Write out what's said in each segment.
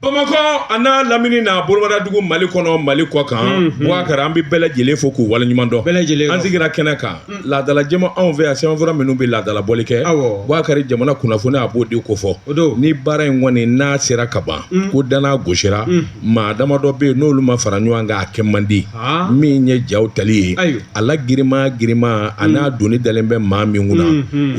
Bamakɔ an'a lamini n'a bolomadadugu mali kɔnɔ mali kɔ kan bubakari an bɛ bɛɛ lajɛlen fo k'u waleɲuman dɔn an sigira kɛnɛ kan laadalajɛ ma anw fɛ yan sɛbɛnfura minnu bɛ laadalabɔli kɛ bubakari jamana kunnafoni a b'o de kofɔ ni baara in kɔni n'a sera ka ban ko dan na gosira maa damadɔ bɛ yen n'olu ma fara ɲɔgɔn kan a kɛ man di min ye jaw tali ye a la girinman girinman an'a doni dalen bɛ maa min kunna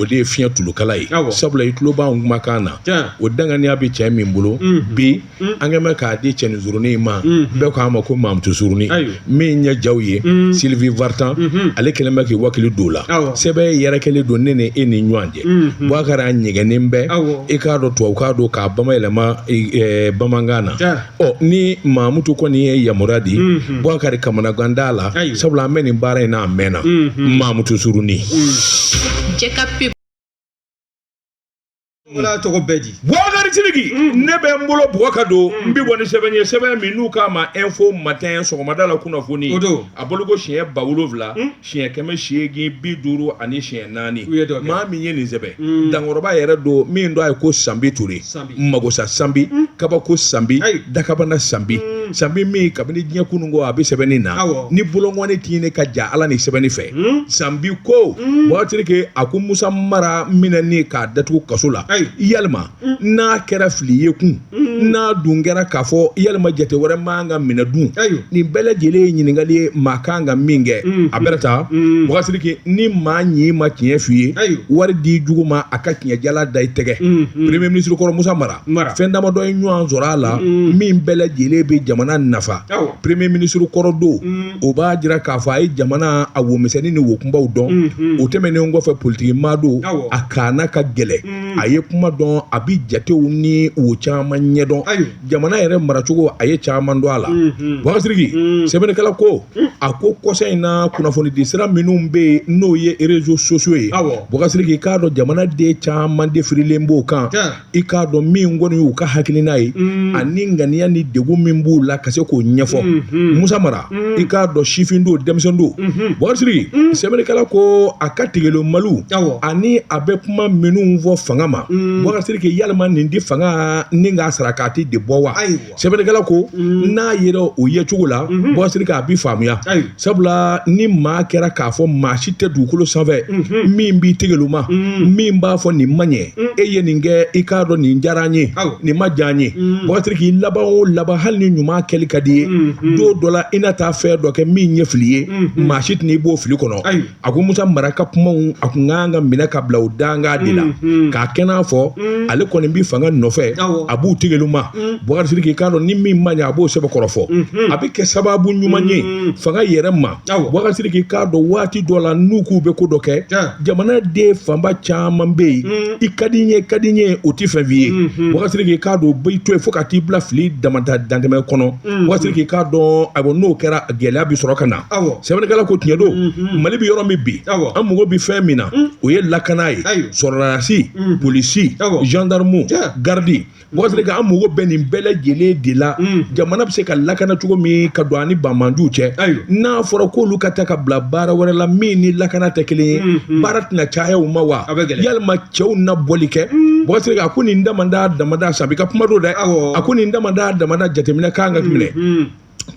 o de ye fiɲɛ tulukala ye sabula i tulo b'an kumakan na o danganiya bɛ cɛ min bolo bi an kɛlen bɛ k'a di cɛnin surunin ma bɛɛ k'a ma ko mamutu surunin min ɲɛ jaw ye sylvie vartan ale kɛlen bɛ k'i wakili don la sɛbɛn yɛrɛ kɛlen don ne ni e ni ɲɔgɔn cɛ bubakari a ɲɛgɛnnen bɛ i k'a dɔn tubabukan don k'a bamayɛlɛma bamanankan na Ɔ ni mamutu kɔni ye yamaruya di bubakari kamanagan t'a la sabula an bɛ nin baara in na a mɛnna mamutu surunin jaa tɔgɔ bɛ di bubakari siriki ne bɛ n bolo bubakari don n bɛ bɔ ni sɛbɛn ye sɛbɛn min n'u k'a ma info matin sɔgɔmada la kunnafoni a bolo ko siɲɛ ba wolowula siɲɛ kɛmɛ seegin bi duuru ani siɲɛ naani maa min ye nin sɛbɛn mm. dankɔrɔba yɛrɛ don min don a ye ko sanbi ture magosa sanbi mm. kabako sanbi dakabana sanbi mm. sanbi min kabini diɲɛ kunun ko a bɛ sɛbɛnni na ni bolonkɔni tɛ ne ka ja ala ni sɛbɛnni fɛ sanbi ko bubakari siriki a ko musa mara minɛni k'a datugu kaso la yalima mm. n'a kɛra fili ye kun mm. n'a dun kɛra k'a fɔ yalima jate wɛrɛ man ka minɛ dun nin bɛɛ lajɛlen ye ɲininkali ye maa kan ka min kɛ mm. a bɛrɛ ta bubakari siriki ni maa ɲi ma tiɲɛ f'i ye wari di jugu ma a ka tiɲɛ jalan da i tɛgɛ premier ministre kɔrɔ musa mara fɛn damadɔ ye ɲɔgɔn sɔrɔ a la min bɛɛ lajɛlen bɛ jamana nafa premier ministre kɔrɔ don o b'a jira k'a fɔ a ye jamana a womisɛnnin ni wokunbaw dɔn o tɛmɛnen kɔfɛ politiki maa don a kanna ka gɛlɛn Hmm. a ye kuma dɔn a bɛ jatew ni o caman ɲɛdɔn jamana yɛrɛ maracogo a ye caman dɔn a la hmm, hmm. bubakari siriki sɛbɛnnikɛla ko a ko kɔsa in na kunnafonidi sira minnu bɛ yen n'o ye réseaux sociaux ye bubakari siriki i k'a dɔn jamanaden caman de firilen b'o kan i k'a dɔn min kɔni y'u ka hakilina ye ani ŋaniya ni degun min b'u la ka se k'o ɲɛfɔ musa mara i k'a dɔn sifin don denmisɛn don bubakari siriki sɛbɛnnikɛla ko a ka tigɛlomali ani a bɛ kuma minnu fɔ fanga ma bubakari siriki yalima nin di fanga ni k'a sara k'a tɛ de bɔ wa sɛbɛnnikɛla ko n'a yera o yecogo la bubakari siriki a bɛ faamuya sabula ni maa kɛra k'a fɔ maa si tɛ dugukolo sanfɛ min b'i tigɛloma min b'a fɔ nin man ɲɛ e ye nin kɛ i k'a dɔn nin diyara n ye nin ma diya n ye Boubacar Sidiki laban o laban hali ni ɲuman kɛli ka di ye don dɔ la i na taa fɛn dɔ kɛ min ye fili ye maa si tɛna i bɔ fili kɔnɔ a ko musa mara ka kumaw a kun kan ka minɛ ka bila o danga de la k'a kɛ n'a fɔ ale kɔni bɛ fanga nɔfɛ a b'u tigɛli ma Boubacar Sidiki i k'a dɔn ni min ma ɲɛ a b'o sɛbɛkɔrɔ fɔ a bɛ kɛ sababu ɲuman ye fanga yɛrɛ ma k'i k'a dɔn waati dɔ la n'u k'u bɛ ko dɔ kɛ jamanaden fanba caman bɛ yen mm. i ka di n ye ka di n ye o tɛ fɛn f'i ye mm-hmm. Boubacar Sidiki i k'a dɔn b'i to yen fo ka t'i bila fili damata dantɛmɛ kɔnɔ mm-hmm. Boubacar Sidiki i k'a dɔn a n'o kɛra gɛlɛya bɛ sɔrɔ ka na sɛbɛnnikɛla ko tiɲɛ don mm-hmm. mali bɛ yɔrɔ min bi an mago bɛ fɛn min na mm. o ye lakana ye sɔrɔlasi polisi zandaramu garidi Boubacar Sidiki an mago bɛ nin bɛɛ lajɛlen de la jamana bɛ se ka lakana cogo min ka don a ni banmanjuw cɛ n'a fɔra k'olu ka taa ka bila baara wɛrɛ la min ni lakana tɛ kelen ye baara tɛna caya u ma wa yalima cɛw na bɔli kɛ Boubacar Sidiki a ko nin damada damada Sanbi ka kuma don dɛ a ko nin damada damada jateminɛ kan ka minɛ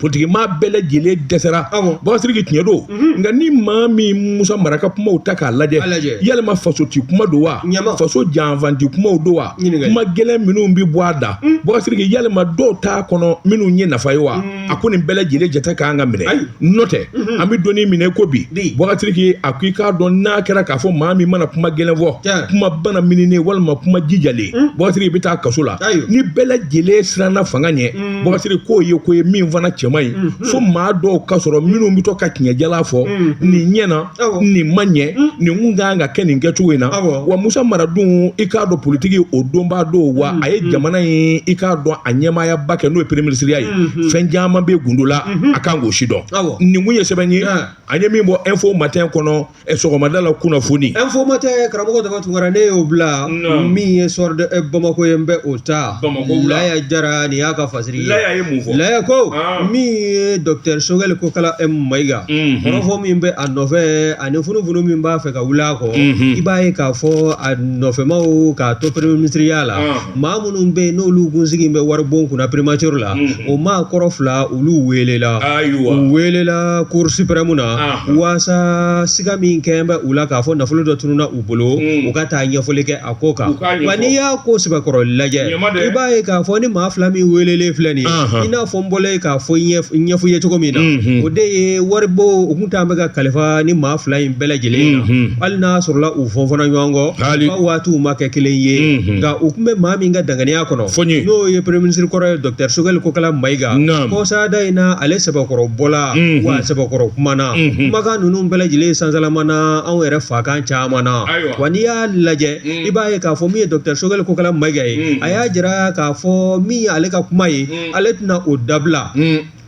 politikimaa bɛɛ lajɛlen dɛsɛra Boubacar Sidiki tiɲɛ don mhm. nka ni maa min musa mara ka kumaw ta k'a lajɛ yalima faso ti kuma don wa faso janfanti kumaw don wa kuma gɛlɛn minnu bɛ bɔ a da mm. Boubacar Sidiki yalima dɔw t'a kɔnɔ minnu ye nafa ye wa mm. a ko nin bɛɛ lajɛlen jate kan ka minɛ n'o tɛ mhm. an bɛ don min na i ko bi Boubacar Sidiki a ko i k'a dɔn n'a kɛra k'a fɔ maa min mana kuma gɛlɛn fɔ kuma bana minini walima kuma jijalen mm. Boubacar Sidiki i bɛ taa kaso la ni bɛɛ lajɛlen siranna fanga ɲɛ Boubacar Sidiki k'o ye ko ye min fana cɛ man ɲi fo maa dɔw ka sɔrɔ minnu bɛ to ka tiɲɛ jalan fɔ nin ɲɛna nin ma ɲɛ nin kun ka kan ka kɛ nin kɛcogo in na wa musa mara dun i k'a dɔn politiki o dɔnbaa don wa a ye jamana in i k'a dɔn a ɲɛmaayaba kɛ n'o ye premier ministre ya ye fɛn caman bɛ gundo la a kan k'o si dɔn nin kun ye sɛbɛn ye an ye min bɔ Info Matin kɔnɔ ɛ sɔgɔmada la kunnafoni Info Matin karamɔgɔ daba tunkara ne y'o bila Naamu. min ye Soir de ɛ, Bamakɔ ye n bɛ o ta Bamakɔ wula. Laya Jara nin y'a ka fasiri ye laya ye mun fɔ Laya ko Ah. min ye docteur Sogɛli Kokala M Mayiga Mhm. kɔrɔfɔ min bɛ a nɔfɛ ani funufunu min b'a fɛ ka wuli a kɔ Mhm. i b'a ye k'a fɔ a nɔfɛmaw k'a to premier ministre ya la Ah. maa minnu bɛ yen n'olu kun sigi bɛ waribon kunna primature la o maakɔrɔ fila olu welela u welela cour suprême na walasa siga min kɛlen bɛ u la k'a fɔ nafolo dɔ tununna u bolo u ka taa ɲɛfɔli kɛ a ko kan wa n'i y'a ko sɛbɛkɔrɔ lajɛ i b'a ye k'a fɔ nin maa fila min welelen filɛ nin i n'a fɔ n bɔra k'a fɔ ɲɛfɔ ye cogo min na o de ye waribon u tun bɛ ka kalifa nin maa fila in bɛɛ lajɛlen na hali n'a sɔrɔla u fɔnfɔnna ɲɔgɔn kɔ ka waatiw ma kɛ kelen ye nka u tun bɛ maa min ka danganiya kɔnɔ n'o ye premier ministre kɔrɔ ye docteur Choguel Kokalla Maïga kɔsada in na ale sɛbɛkɔrɔ bɔla wa a sɛbɛkɔrɔ kumana kumakan ninnu bɛɛ lajɛlen sansalama na anw yɛrɛ fakan caman na wa n'i y'a lajɛ i b'a ye k'a fɔ min ye docteur Choguel Kokalla Maïga ye a y'a jira k'a fɔ min ye ale ka kuma ye ale tɛna o dabila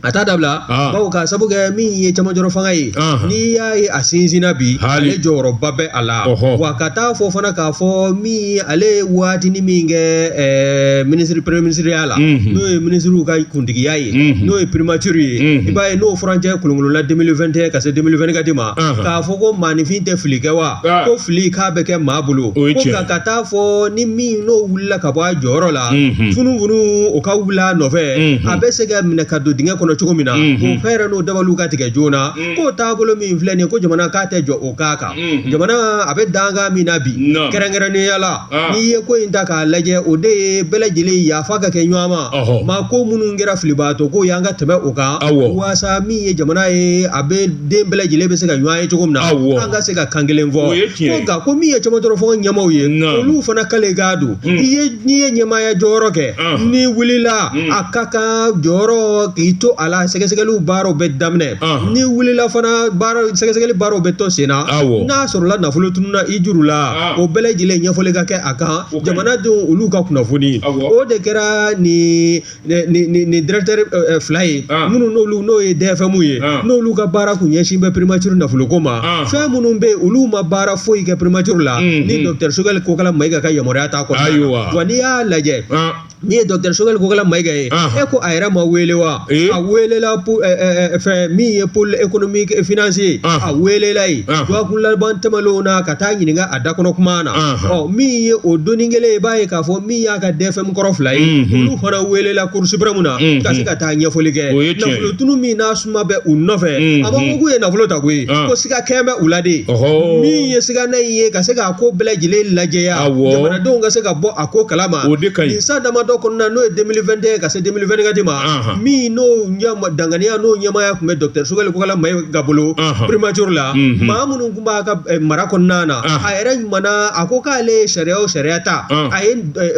a t'a dabila Ah. bawo k'a sabu kɛ min ye cɛmancɛrɔ fanga ye Ahan. n'i y'a ye a sinsinna bi Hali. ale jɔyɔrɔba bɛ a la Ɔhɔ. wa ka taa fɔ fana k'a fɔ min ale ye waatini min kɛ ɛɛ minisiri premier minisiriya la Mhm. n'o ye minisiriw ka kuntigiya ye Mhm. n'o ye primature ye Mhm. i b'a ye n'o furancɛ kolonkolonla 2021 ka se 2024 ma Ahan. k'a fɔ ko maaninfin tɛ fili kɛ wa Ah. ko fili k'a bɛ kɛ maa bolo O ye ko tiɲɛ. nka ka taa fɔ ni min n'o wulila ka bɔ a jɔyɔrɔ la funufunu o ka wuli a nɔfɛ a bɛ se ka minɛ ka don dingɛ kɔnɔ cogo min na o fɛɛrɛ n'o dabaliw ka tigɛ joona k'o taabolo min filɛ nin ko jamana k'a tɛ jɔ o k'a kan jamana a bɛ danga min na bi kɛrɛnkɛrɛnnenyala n'i ye ko in ta k'a lajɛ o de ye bɛɛ lajɛlen yafa ka kɛ ɲɔgɔn ma maa ko minnu kɛra filibaatɔ ko y'an ka tɛmɛ o kan walasa min ye jamana ye a bɛ den bɛɛ lajɛlen bɛ se ka ɲɔgɔn ye cogo min na an ka se ka kan kelen fɔ ko nka ko min ye cɛmancɛrɔ fanga ɲɛmaaw ye olu fana ka kan k'a dɔn n'i ye n'i ye ɲɛmaaya jɔyɔrɔ kɛ n'i wulila a ka kan jɔyɔrɔ k'i to a la sɛgɛsɛgɛliw baaraw bɛ daminɛ n'i wulila fana baara sɛgɛsɛgɛli baaraw bɛ to sen na n'a sɔrɔla nafolo tununna i juru la o bɛɛ lajɛlen ɲɛfɔli ka kɛ a kan jamanadenw olu ka kunnafoni o de kɛra nin nin directeur fila ye minnu n'olu n'o ye DFM ye n'olu ka baara tun ɲɛsin bɛ primature nafoloko ma fɛn minnu bɛ olu ma baara foyi kɛ primature la ni docteur Choguel Kokalla Maïga ka yamaruya t'a kɔ wa n'i y'a lajɛ n'i ye docteur Choguel Kokalla Maïga ye e ko a yɛrɛ ma wele wa a welela fɛn min ye pôle économique et financier ye a welela yen dɔgɔkun laban tɛmɛnlen na ka taa ɲininka a dakɔnɔ kuma na ɔ min ye o don kelen ye b'a ye k'a fɔ min y'a ka DFM kɔrɔ fila ye olu fana welela cour suprême na ka se ka taa ɲɛfɔli kɛ nafolo tunun min n'a suma bɛ u nɔfɛ a b'u ye nafolo ta koyi ko siga kɛlen bɛ u la de min ye sigana in ye ka se k'a ko bɛɛ lajɛlen lajɛya jamanadenw ka se ka bɔ a ko kala ma nin san damadɔ kɔnɔna n'o ye 2021 ka se 2024 ma min n'o danganiya n'o ɲɛmaaya tun bɛ docteur Choguel Kokalla Maïga bolo primature la maa minnu tun b'a ka mara kɔnɔna na a yɛrɛ kumana a ko k'ale sariya sariya ta a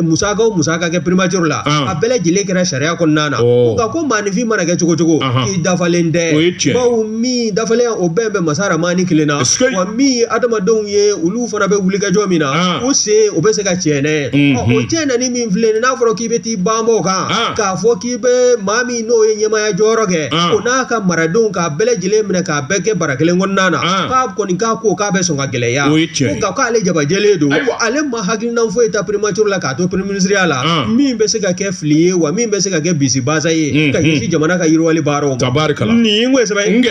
min sera ka kɛ primature la a bɛɛ lajɛlen kɛra sariya kɔnɔna na nka ko maaninfin mana kɛ cogo o cogo i dafalen tɛ bawo min dafalen o bɛɛ bɛ masa ramani kelen na wa min adamadenw ye olu fana bɛ wuli k'u jɔ min na u sen u bɛ se ka cɛ ne o cɛ na ni min filɛ n'a fɔra k'i bɛ t'i banba o kan k'a fɔ k'i bɛ maa min n'o ye ɲɛmaya jɔyɔrɔ kɛ o n'a ka maradenw k'a bɛɛ lajɛlen minɛ k'a bɛɛ kɛ bara kelen kɔnɔna na k'a kɔni k'a ko k'a bɛ sɔn ka gɛlɛya a ko k'ale jabajɛlen don ale ma hakilina foyi ta primature la k'a to premier ministreya la min bɛ se ka kɛ fili ye wa min bɛ se ka kɛ bisibasa ye ka jamana ka yiriwali baara tabarikala nin ko sɛbɛn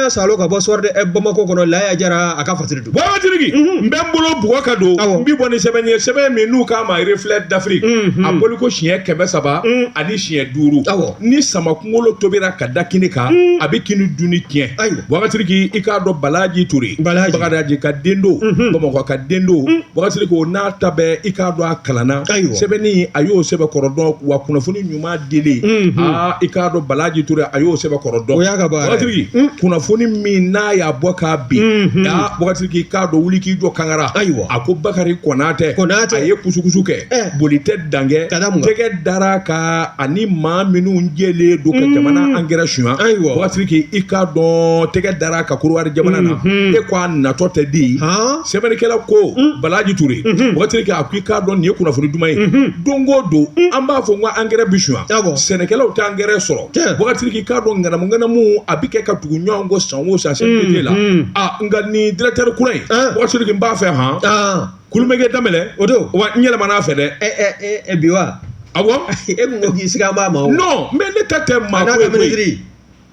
y'a saalo ka bɔ Soir de Bamako kɔnɔ Laya Jara a ka fasiri don Bakasiriki n bɛ n bolo bugu ka don n bɛ bɔ ni sɛbɛn ye sɛbɛn min n'u k'a ma Reflet d'Afrique a bɔli ko siɲɛ kɛmɛ saba ani siɲɛ duuru ni sama kunkolo tobira ka da kini kan a bɛ kini dunni tiɲɛ ayi Bakasiriki i k'a dɔn balaji ture bagadaji ka den don bamakɔ ka den don Bakasiriki ko n'a ta bɛɛ i k'a dɔn a kalanna, ayiwa, sɛbɛnni a y'o sɛbɛn kɔrɔ dɔn wa kunnafoni ɲuman dili, unhun, aa i k'a dɔn Balaji Ture a y'o sɛbɛn kɔrɔ dɔn, o y'a ka baara ye, Bakasiriki, un, kunnafoni min n'a y'a bɔ k'a bin, unhun, aa Bakasiriki i k'a dɔn wuli k'i jɔ kankara, ayiwa, a ko Bakari Konatɛ, Konatɛ, a ye kusukusu kɛ, ɛɛ, boli tɛ dan kɛ, ka da mun kan, tɛgɛ dar'a kan ani maa minnu jɛlen don ka jamana angɛrɛ suɲa, ayiwa, Bakasiriki i k'a dɔn tɛgɛ dar'a kan Kodiwari jamana na, unhun, e ko a natɔ tɛ di, han sɛbɛnnikɛla ko mm. balaji ture mm-hmm. Bakasiriki a ko i k'a dɔn nin ye kunnafoni duman ye mm-hmm. don o don mm. an b'a fɔ n ko angɛrɛ bi suɲa sɛnɛkɛlaw tɛ angɛrɛ sɔrɔ Bakasiriki i k'a dɔn ŋanamu ŋanamu a bɛ kɛ ka tugu ɲɔgɔn kɔ san o san CMDT la mm-hmm. a ah, nka nin directeur kura in eh. Bakasiriki n b'a fɛ han ah. kulumɛkɛ danbɛlɛ o don wa n yɛlɛmana a fɛ dɛ eh, eh, eh, bi wa awɔ e tun ko k'i sigalen b'a ma o non mais ne ta tɛ maa ko ye koyi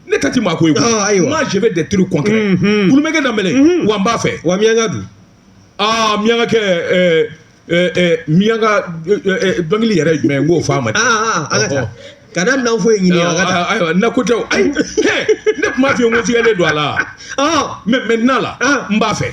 ne ta ti maa ko ye koyi Ah, ayiwa. moi je veux des trucs concrets Mhm. kulumɛkɛ danbɛlɛ wa n b'a fɛ wa miyanka don aa miyanka kɛ ɛɛ ɛɛ ɛɛ miyanka ɛɛ, ɛɛ, dɔnkili yɛrɛ ye jumɛn ye n k'o fɔ a ma aa aa an ka taa ka daminɛ an fo ye ɲini an ka taa ayiwa na ko tɛ o ayi hɛ ne tun b'a f'i ye n ko sigalen don a la mais maintenant là n b'a fɛ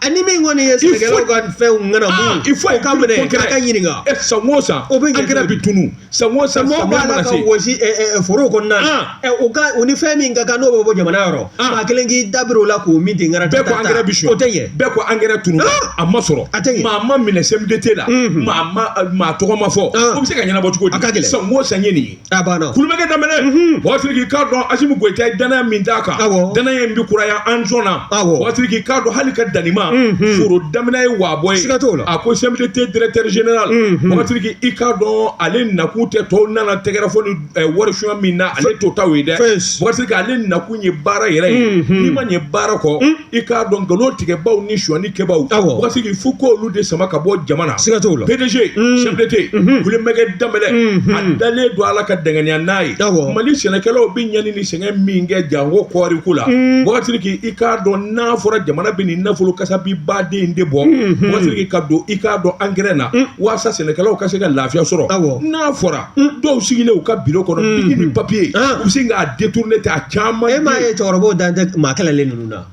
ani min kɔni ye sɛnɛkɛlaw ka fɛnw ŋanamu il faut ka minɛ k'a ka ɲininka e san o san o bɛ angɛrɛ bi tunu san o san samiya mana se wɔsi foro kɔnɔna na o ka o ni fɛn min ka kan n'o bɛ bɔ jamana yɔrɔ maa kelen k'i dabiri o la k'o min ten ŋana bɛɛ ko angɛrɛ bi suɲa o tɛ ɲɛ bɛɛ ko angɛrɛ tunu a ma sɔrɔ a tɛ ɲɛ maa ma minɛ CMDT la maa ma maa tɔgɔ ma fɔ o bɛ se ka ɲɛnabɔ cogo di a ka gɛlɛn san o san ye nin ye a banna kulumɛkɛ danbɛlɛ Bakasiriki i k'a dɔn asimi goyita ye danaya min d'a kan awɔ danaya in bɛ kuraya an sɔnna awɔ Bakasiriki i k'a dɔn hali ka danima foro daminɛ ye waabɔ ye siga t'o la a ko CMDT directeur général Bakasiriki i k'a dɔn ale nakun tɛ tɔw nana tɛgɛrɛ fɔ ni eh, wari suɲa min na ale t'o taw ye dɛ Fes. Bakasiriki ale nakun ye baara yɛrɛ ye n'i ma ɲɛ baara kɔ i k'a dɔn nkalon tigɛbaaw ni sonyani kɛbaaw awɔ buwakari sidiki fo ko olu de sama ka bɔ jama na siga t'o la PDG Mm. CMDT Mhm. kulumɛgɛ danbɛlɛ Mhm. a dalen don ala ka danganiya n'a ye Awɔ. mali sɛnɛkɛlaw bɛ ɲani ni sɛgɛn min kɛ janko kɔɔri ko la Mm. buwakari sidiki i k'a dɔn n'a fɔra jamana bɛ nin nafolo kasabi ba in de bɔ Mhm. buwakari sidiki ka don i k'a dɔn angɛrɛ na Mm. waasa sɛnɛkɛlaw ka se ka lafiya sɔrɔ Awɔ. n'a fɔra dɔw sigilen u ka biro kɔnɔ biki ni papiye u bɛ sin k'a détourner ta caman e m'a ye cɛkɔrɔba dan tɛ maa kalannen ninnu na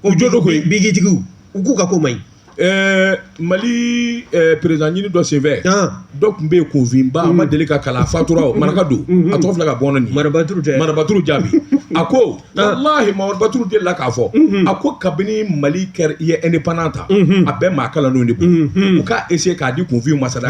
o jo don ko bikitigiw u k'u ka ko man ɲi ɛɛ mali président ɲini dɔ senfɛ dɔ tun bɛ yen kunfinba ma deli ka kalan faatura o maraka don a tɔgɔ fila ka bɔ nin marabatouru jaabi a ko marabatouru delila k'a fɔ a ko kabini mali kɛra i ye indépendance ta a bɛɛ maa kalannen de u k'a essayer k'a di kunfin ma sa dɛ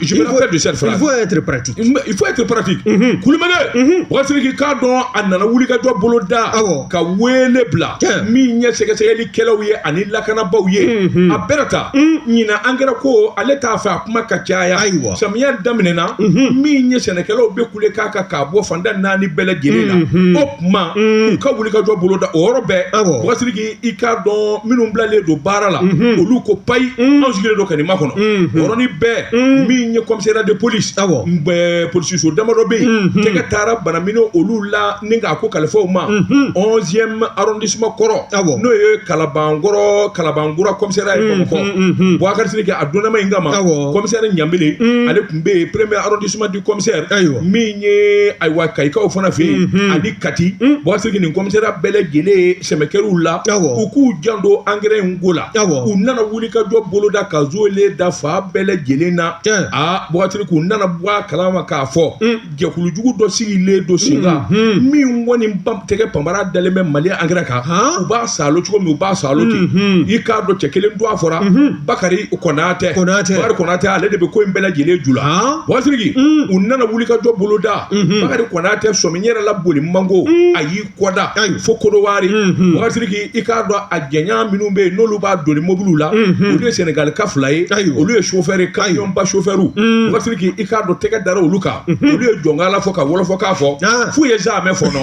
Je me rappelle de cette phrase. Il faut être pratique. Il faut être pratique. Mhm. Kulumɛgɛ. Mhm. Buwakari Sidiki i k'a dɔn a nana wulikajɔ boloda. Awɔ. Ka weele bila. Tiɲɛ. Min ye sɛgɛsɛgɛlikɛlaw ye ani lakanabaaw ye. Mhm. A bɛɛ ta. Ɲinan angɛrɛ ko ale t'a fɛ a kuma ka caya. Ayiwa. Samiya daminɛna. Min ye sɛnɛkɛlaw bɛ kule k'a kan k'a bɔ fan tan ni naani bɛɛ lajɛlen na. O tuma u ka wulikajɔ boloda o yɔrɔ bɛɛ. Awɔ. Buwakari Sidiki i k'a dɔn minnu bilalen don baara la mhm. olu ko payi mhm. anw sigilen don kanima kɔnɔ mhm. yɔrɔnin bɛɛ min ye commissariat de police polisiso damadɔ bɛ yen tɛgɛ taara banamini olu la ni k'a ko kalifaw ma onzième arrondissement kɔrɔ n'o ye kalabankɔrɔ kalabankura commissariat ye bamakɔ buwakari sidiki a donna maa in kama kɔmisɛri ɲanbele ale tun bɛ yen premier arrondissement kɔmisɛri ayiwa min ye ayiwa kayikaw fana fɛ yen mhm. ani kati mhm. buwakari sidiki nin commissariat bɛɛ lajɛlen sɛmɛ kɛra u la u k'u janto angɛrɛ in ko la u nana wulikajɔ boloda ka zoolen da fan bɛɛ lajɛlen na a buwakari sidiki u nana bɔ a kala ma k'a fɔ mm. jɛkulujugu dɔ sigilen don sen kan mhm. min kɔni tɛgɛ panra dalen bɛ mali angɛrɛ kan u b'a saalo cogo min u b'a saalo ten i k'a dɔn cɛ kelen don a fɔra Bakari Konatɛ, Konatɛ, Bakari Konatɛ ale de bɛ ko in bɛɛ lajɛlen ju la, han, Buwakari Sidiki, un, u nana wulikajɔ boloda, unhun, Bakari Konatɛ sɔmi n yɛrɛ la boli man go, un, a y'i kɔda, ayi, fo Kodowari, unhun, Buwakari Sidiki i k'a dɔn a jɛɲan minnu bɛ yen n'olu b'a doni mobiliw la, unhun, olu ye Senegalika fila ye, ayiwa, olu ye chauffeur ye, camion ba chauffeur, un, Buwakari Sidiki i k'a dɔn tɛgɛ dara olu kan, unhun, olu ye jɔnkala fɔ ka wɔlɔfɔkan fɔ, an, f'u ye zaamɛ fɔnɔ.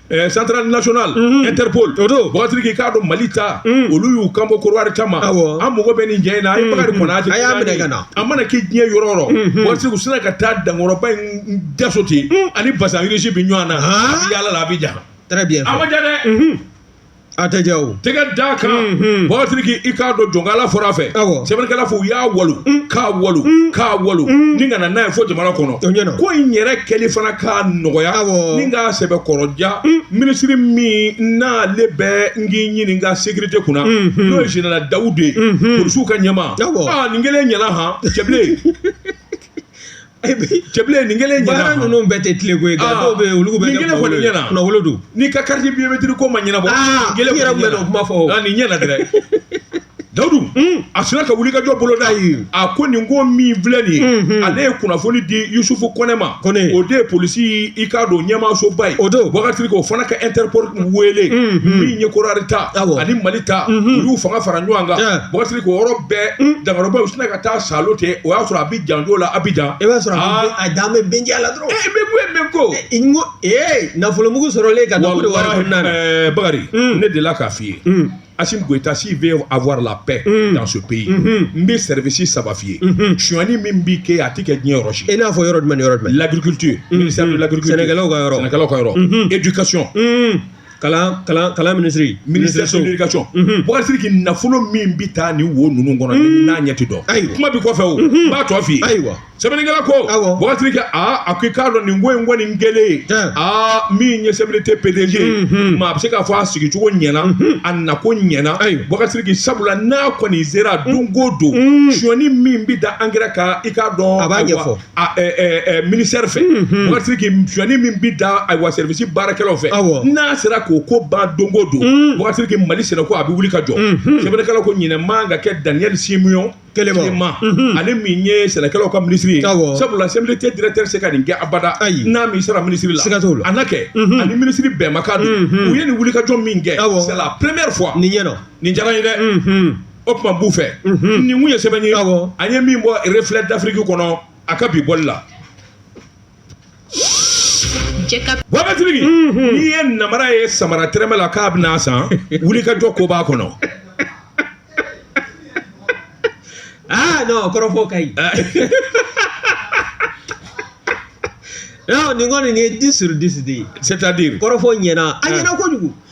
Eh, central national mhm. interpol buwakari sidiki i k'a dɔn mali ta mhm. olu y'u kan bɔ kodowari ta ma an mago bɛ nin cɛ in na a ye mhm. bakari kɔnate a y'a minɛ ka na a mana kɛ diɲɛ yɔrɔ o yɔrɔ buwakari sidiki u sinna ka taa dankɔrɔba in daso ten ani bazin riche bi ɲɔgɔn na a bi yaala la abijan très bien a man jan dɛ a tɛ ja o tɛgɛ da kan Unhun. Boubacar Sidiki i k'a dɔn jɔnkala fɔra a fɛ Awɔ. sɛbɛnnikɛla fɔ u y'a walu k'a walu k'a walu ni kana n'a ye fo jamana kɔnɔ O ɲɛna. ko in yɛrɛ kɛli fana ka nɔgɔya Awɔ. ni k'a sɛbɛkɔrɔ ja ministre min n'ale bɛ n k'i ɲininka sécurité kunna Unhun. n'o ye général dawudu ye Unhun. polisiw ka ɲɛmaa Awɔ. aa nin kelen ɲɛna han cɛbilen cɛbilen nin kelen ɲɛna baara ninnu bɛɛ tɛ tile ko ye nka dɔw bɛ yen olu bɛ nin kelen kɔni ɲɛna kunnawolo don n'i ka carte biométrique ko ma ɲɛnabɔ nin kelen yɛrɛ bɛ kuma fɔ nin ɲɛna dɛ dawudu a sina ka wuli ka jɔ boloda a ko nin ko min filɛ nin ye ale ye kunnafoni di yusufu kɔnɛ ma kɔnɛ o de ye polisi i k'a don ɲɛmaasoba ye o don wagati o fana ka interpol wele min ye Côte d'Ivoire ta ani mali ta u y'u fanga fara ɲɔgɔn kan wagati o yɔrɔ bɛɛ dangarobaw u sina ka taa salo ten o y'a sɔrɔ a janjo la Abidjan i b'a sɔrɔ a dan bɛ bɛnja la dɔrɔn ee bɛ ko e bɛ ko n ko ee nafolomugu sɔrɔlen ka nafolo wari minɛ ɛɛ bakari ne delila k'a f'i ye Assimi Goïta s'il veut avoir la paix mm. dans ce pays n bɛ service saba f'i ye sonyani min bɛ kɛ a tɛ kɛ diɲɛ yɔrɔ si i n'a fɔ yɔrɔ jumɛn ni yɔrɔ jumɛn l'agriculture ministère de l'agriculture sɛnɛkɛlaw ka yɔrɔ sɛnɛkɛlaw ka yɔrɔ éducation kalan minisiri ministère de l'éducation Boubacar Sidiki nafolo min bɛ taa ni wo ninnu kɔnɔ n'a ɲɛ tɛ dɔn ayi kuma bɛ kɔfɛ o n b'a tɔ f'i ye sɛbɛnnikɛla ko Boubacar Sidiki a ko i k'a dɔn nin ko in kɔni kelen aa min ye CMDT PDG maa a bɛ se k'a fɔ a sigicogo ɲɛna a nako ɲɛna Boubacar Sidiki sabula n'a kɔni sera don ko don sonyani min bɛ da engrais kan i k'a dɔn a b'a ɲɛfɔ ministère fɛ Boubacar Sidiki sonyani min bɛ da ayiwa service baarakɛlaw fɛ n'a sera k'o ko ban don o don Boubacar Sidiki mali sɛnɛko a bɛ wuli ka jɔ sɛbɛnnikɛla ko ɲinɛ man ka kɛ Daniel Siméon Kelema ale min ye sɛnɛkɛlaw ka ministre ye sabula CMDT directeur tɛ se ka nin kɛ abada ayi n'a m'i sara ministre la a na kɛ a ni ministre bɛnmakan don u ye nin wulikajɔ min kɛ c'est la première fois nin ɲɛna nin diyara n ye dɛ o tuma b'u fɛ nin kun ye sɛbɛn ye an ye min bɔ Reflet d'Afrique kɔnɔ a ka bi bɔli la Boubacar Sidiki n'i ye namara ye samara tɛrɛmɛ la k'a bɛn'a san wuli ka jɔ ko b'a kɔnɔ aa kɔrɔfɔ ka ɲi nin kɔni nin ye dix sur dix de ye c'est-à-dire kɔrɔfɔ ɲɛna a ɲɛna kojugu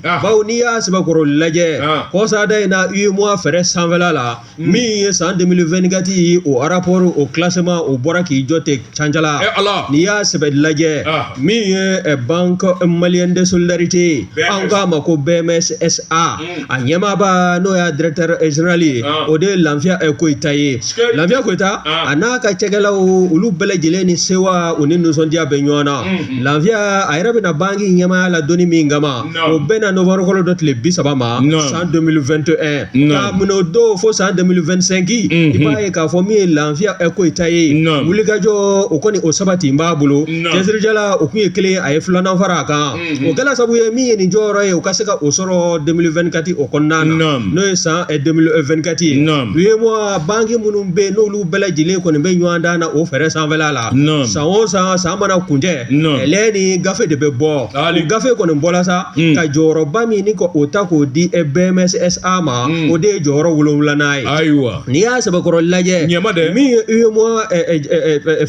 bawo n'i y'a sɛbɛkɔrɔ lajɛ kɔsada in na UEMOA fɛrɛ sanfɛla la min ye san 2024 ye o rapport o classement o bɔra k'i jɔ ten cancala n'i y'a sɛbɛ lajɛ min ye banque malienne de solidarité ye an k'a ma ko BMS SA a ɲɛmaaba n'o y'a directeur général ye o de ye lanfiya koyita ye lanfiya koyita a n'a ka cɛkɛlaw olu bɛɛ lajɛlen ni sewa u ni nisɔndiya bɛ ɲɔgɔn na lafiya a yɛrɛ bɛna banki ɲɛmaaya la don min kama o bɛnna novembre kalo dɔ tile bi saba ma san 2021 k'a minɛ o don fo san 2025 i b'a ye k'a fɔ min ye lafiya koyita ye wulikajɔ o kɔni o sabatilen b'a bolo cɛsirijala o kun ye kelen a ye filanan fara a kan o kɛla sabu ye min ye nin jɔyɔrɔ ye o ka se ka o sɔrɔ 2024 o kɔnɔna na n'o ye san 2024 ye UEMOA banki minnu bɛ yen n'olu bɛɛ lajɛlen kɔni bɛ ɲɔgɔndan na o fɛɛrɛ sanfɛla la san o san san mana kuncɛ nin gafe de bɛ bɔ gafe kɔni bɔra sa ka jɔyɔrɔba min ni o ta k'o di BMS SA ma o de ye jɔyɔrɔ wolonwulanan ye ayiwa n'i y'a sɛbɛkɔrɔ lajɛ ɲama min ye UEMOA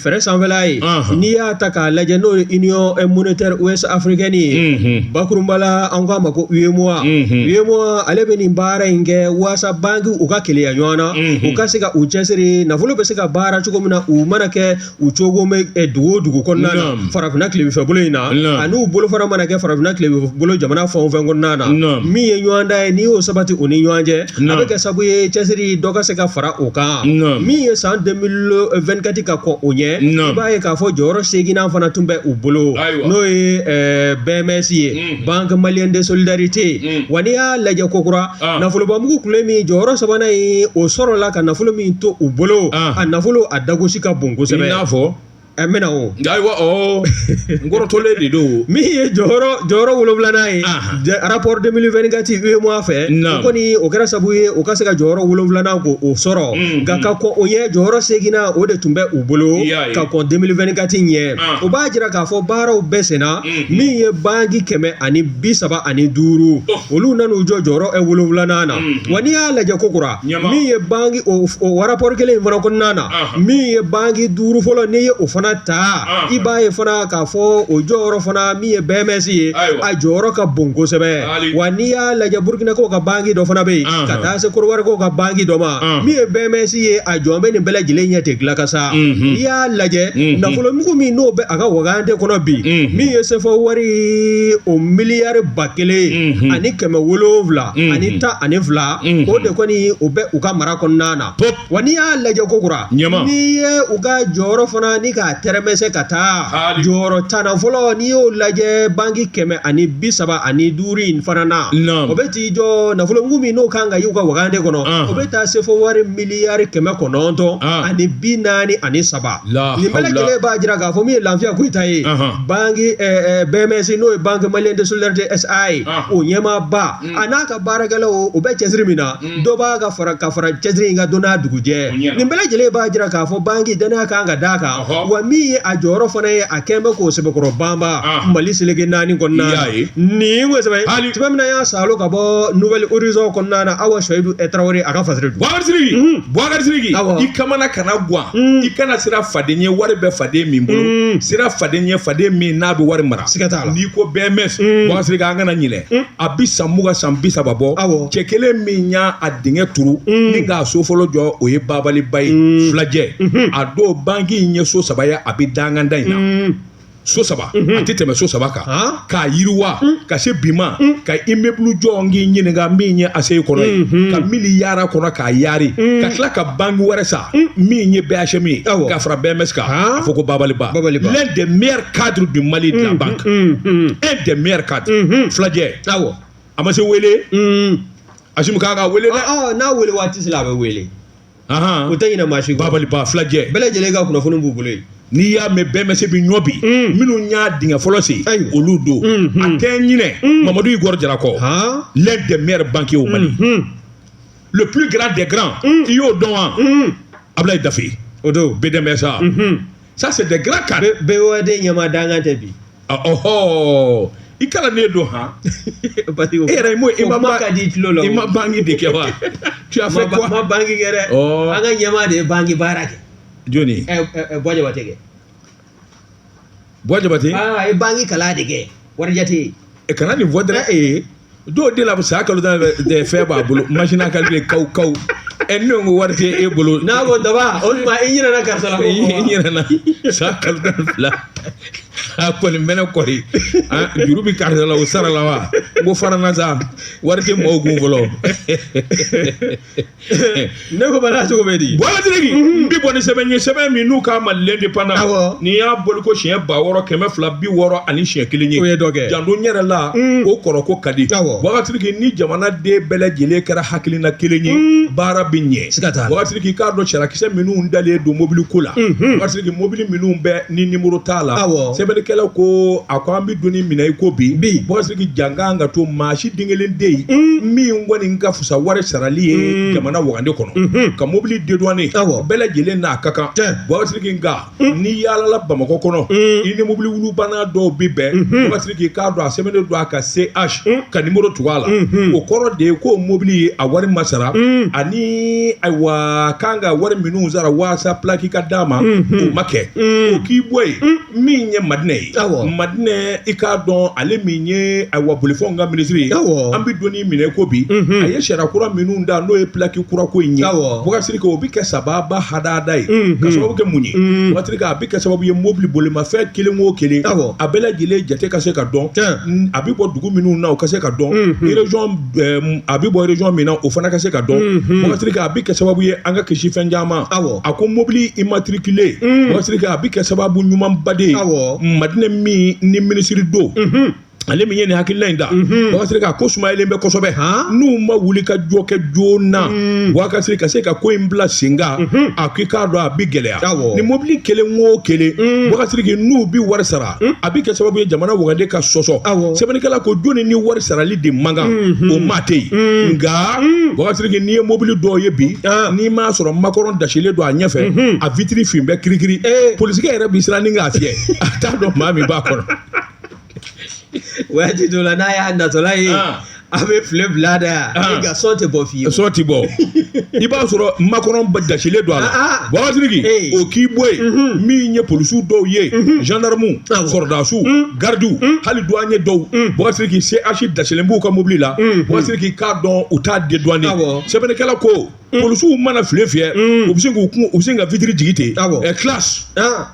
fɛɛrɛ sanfɛla ye n'i y'a ta k'a lajɛ n'o ye union monétaire ouest africaine ye bakurunba la an k'a ma ko UEMOA ale bɛ nin baara in kɛ walasasa bankiw ka keleya ɲɔgɔn na u ka se ka u cɛsiri nafolo bɛ ka baara cogo min na u mana kɛ u cogo eh, dugu o dugu kɔnɔna na farafinna tilebinfɛ bolo in na ani u bolo fana mana kɛ farafinna tilebinfɛ bolo jamana fɛn o fɛn kɔnɔna na min ye ɲɔgɔndan ye n'i y'o sabati u ni ɲɔgɔn cɛ a bɛ kɛ sabu ye cɛsiri dɔ ka se ka fara o kan min ye san 2024 ka kɔn o ɲɛ i b'a ye k'a fɔ jɔyɔrɔ seginnan fana tun bɛ u bolo n'o ye eh, BMS ye Mm. banque malienne de solidarité mm. wa n'i y'a lajɛ kokura ah. nafolobamugu tun bɛ min jɔyɔrɔ sabanan ye o sɔrɔla ka nafolo min to u bolo ah. a nafolo a dagosi ka bon kosɛbɛ i n'a fɔ ɛ mɛna o ayiwa ɔ n kɔrɔtɔlen de don min ye jɔyɔrɔ jɔyɔrɔ wolonwulanan ye ah. rapport 2024 UEMOA fɛ o kɔni o kɛra sabu ye o ka se ka jɔyɔrɔ wolonwulanan ko o sɔrɔ mm, nka ka kɔn o ɲɛ jɔyɔrɔ seginnan o de tun bɛ u bolo ka kɔn 2024 ɲɛ o b'a jira k'a fɔ baaraw bɛ senna min ye banki kɛmɛ ani bi saba ani duuru olu nana u jɔ jɔyɔrɔ ɛ wolonwulanan na wa n'i y'a lajɛ kokura min ye banki o rapport kelen in fana kɔnɔna na min ye banki duuru fɔlɔ n'i ye o fana ta i b'a ye fana k'a fɔ o jɔyɔrɔ fana min ye BMS ye a jɔyɔrɔ ka bon kosɛbɛ wa n'i y'a lajɛ burukinakaw ka banki dɔ fana bɛ yen ka taa se kɔdiwarikaw ka banki dɔ ma min ye BMS ye a jɔlen bɛ nin bɛɛ lajɛlen ɲɛ tɛ dilan ka sa n'i y'a lajɛ nafolomugu min n'o bɛ a ka wagande kɔnɔ bi min ye sefa wari o miliyari ba kelen ani kɛmɛ wolonwula ani tan ani fila o de kɔni o bɛ u ka mara kɔnɔna na wa n'i y'a lajɛ kokura n'i ye u ka jɔyɔrɔ fana ni k'a tɛrɛmɛ se ka taa jɔyɔrɔ tan fɔlɔ n'i y'o lajɛ banki kɛmɛ ani bi saba ani duuru in fana na o bɛ t'i jɔ nafolomugu min n'o kan ka y'u ka wagande kɔnɔ o bɛ taa sefa wari miliyari kɛmɛ kɔnɔntɔn ani bi naani ani saba Nin bɛɛ lajɛlen b'a jira k'a fɔ min ye Lafiya Koyita ye BMS n'o ye Banque Malienne de Solidarité SA ye o ɲɛmaaba a n'a ka baarakɛlaw u bɛ cɛsiri min na dɔ b'a ka fara ka fara cɛsiri in kan don n'a dugujɛ nin bɛɛ lajɛlen b'a jira k'a fɔ banki danaya kan ka da a kan wa min ye a jɔyɔrɔ fana ye a kɛlen bɛ k'o sɛbɛkɔrɔ banba Mali seleke naani kɔnɔna ye nin min y'a sɔrɔ ka bɔ Nouvel Horizon kɔnɔna na Awa Suwayidu Tarawele a ka fasiri Mm. i kana siran faden ye wari bɛ faden min bolo mm. siran faden ye faden min n'a bɛ wari mara siga t'a la n'i ko BMS mm. Boubacar Sidiki an kana ɲinɛ mm. a bi san mugan san bi saba bɔ awɔ cɛ kelen min y'a a dingɛ turu mm. ni k'a so fɔlɔ jɔ o ye Babali Ba ye mm. filajɛ mm -hmm. a don banki in ye so saba ye a bi danganda in na mm. so saba mhm. a tɛ tɛmɛ so saba kan k'a yiriwa mm. ka se bi ma mm. ka immeuble jɔ n k'i ɲininka min ye ACI kɔnɔ ye mhm. ka mili yaara kɔnɔ k'a yaari mm. ka tila ka banque wɛrɛ san min ye BHM ye ka fara BMS kan a fɔ ko Babali Ba l'un des meilleurs cadres du Mali de la banque un des meilleurs cadres mhm. filajɛ awɔ a ma se wele Asimi k'a ka wele dɛ n'a wele waati sera a bɛ wele u tɛ ɲinɛ maa si kɔ Babali Ba filajɛ bɛɛ lajɛlen ka kunnafoni b'u bolo yen n'i y'a mɛn BMS bi ɲɔ bi minnu y'a dingɛ fɔlɔ sen olu don a tɛ ɲinɛ Mamadu Igor Jara kɔ l'un des meilleurs banquiers au Mali le plus grand des grands i y'o dɔn wa Abulayi Dafe o don BDM SA ça c'est des grands cadres BOAD ɲɛmaa dankan tɛ bi ɔhɔ i kalannen don han parce que e yɛrɛ m'o i ma kuma ka di tulo la i ma banki de kɛ wa tu as fait quoi ma banki kɛ dɛ ɔ an ka ɲɛmaa de ye banki baara kɛ jɔni Buwa Jabate kɛ Buwa Jabate aa a ye banki kalan de kɛ warijate kana nin fɔ dɛrɛ ee dɔw de la san kalo tan de fɛn b'a bolo machine à calculer kaw kaw ɛ ne ko wari tɛ e bolo n'a ko daba o tuma i ɲinɛna karisa la i ɲinɛna san kalo tan ni fila a kɔni mɛnɛ kɔri juru bɛ karisa la o sara la wa n ko farana sa wari tɛ mɔgɔw kun fɔlɔ ne ko bala cogo bɛ di Boubacar Sidiki n bɛ bɔ ni sɛbɛn ye sɛbɛn min n'u k'a ma l'Indépendant Awɔ. n'i y'a boli ko siɲɛ ba wɔɔrɔ kɛmɛ fila bi wɔɔrɔ ani siɲɛ kelen ye O ye dɔ kɛ. janto n yɛrɛ la o kɔrɔ ko ka di Awɔ. Boubacar Sidiki ni jamanaden bɛɛ lajɛlen kɛra hakilina kelen ye baara bɛ ɲɛ Siga t'a la. Boubacar Sidiki k'a dɔn sarakisɛ minnu dalen don mobili ko la Boubacar Sidiki mobili minnu bɛ ni nimɔrɔ t'a la Awɔ. sɛbɛnnikɛlaw ko a ko an bɛ don ni minɛ i ko bi Bi. Boubacar Sidiki jankan ka to maa si den kelen den ye min kɔni ka sa wari sarali ye jamana wagande kɔnɔ ka mobili dédouaner bɛɛ lajɛlen n'a ka kan Boubacar Sidiki nka n'i yaalala bamakɔ kɔnɔ i ni mobili wulu banna dɔw bɛ bɛn Boubacar Sidiki k'a dɔn a sɛbɛnnen don a ka CH ka numéro tugu a la o kɔrɔ de ye ko mobili ye a wari ma sara ani ayiwa kan ka wari minnu sara walasa plaque ka d'a ma o ma kɛ o k'i bɔ yen min ye madinɛ ye madinɛ i k'a dɔn ale min ye ayiwa bolifɛnw ka minisiri ye an bɛ don min na i ko bi a ye sariya kura minnu da n'o ye plaque kura ko in ye Boubacar Sidiki o bɛ kɛ sababa hadada ye ka sababu kɛ mun ye Boubacar Sidiki a bɛ kɛ sababu ye mobili bolimafɛn kelen wo kelen a bɛɛ lajɛlen jate ka se ka dɔn a bɛ bɔ dugu minnu na o ka se ka dɔn a bɛ bɔ région min na o fana ka se ka dɔn Boubacar Sidiki a bɛ kɛ sababu ye an ka kisi fɛn caman ma a ko mɔbili immatriculé Boubacar Sidiki a bɛ kɛ sababu ɲumanba de ye madinɛ min ni minisiri don ale min ye nin hakilina in da Boubacar Sidiki a ko sumayalen bɛ kɔsɛbɛ n'u ma wuli ka jɔ kɛ joona Boubacar Sidiki ka se ka ko in bila sen kan a k'i k'a dɔn a bɛ gɛlɛya ni mɔbili kelen wo kelen Boubacar Sidiki n'u bɛ wari sara a bɛ kɛ sababu ye jamana wagande ka sɔsɔ sɛbɛnnikɛla ko jɔn ni wari sarali de man kan o maa tɛ yen nka Boubacar Sidiki n'i ye mobili dɔw ye bi n'i m'a sɔrɔ macaron dasilen don a ɲɛfɛ a vitiri fin bɛ kirikiri polisikɛ yɛrɛ bɛ siran ni k'a fiyɛ a t'a dɔn maa min b'a kɔnɔ waati dɔ la n'a y'a natɔla ye a bɛ file bila da yan Ahan. nka sɔn tɛ bɔ fiyewu sɔn tɛ bɔ i b'a sɔrɔ macaron dasilen don a la Ah, ah. Boubacar Sidiki Ee. o k'i bɔ yen min ye polisiw dɔw ye gendarmes Awɔ. sɔrɔdasiw garidiw hali douanier dɔw Boubacar Sidiki CH dasilen b'u ka mobili la Boubacar Sidiki k'a dɔn u t'a dédouaner Awɔ. sɛbɛnnikɛla ko polisiw mana file fiyɛ u bɛ sin k'u kun u bɛ sin ka vitiri jigi ten Awɔ. ɛ classe Ah,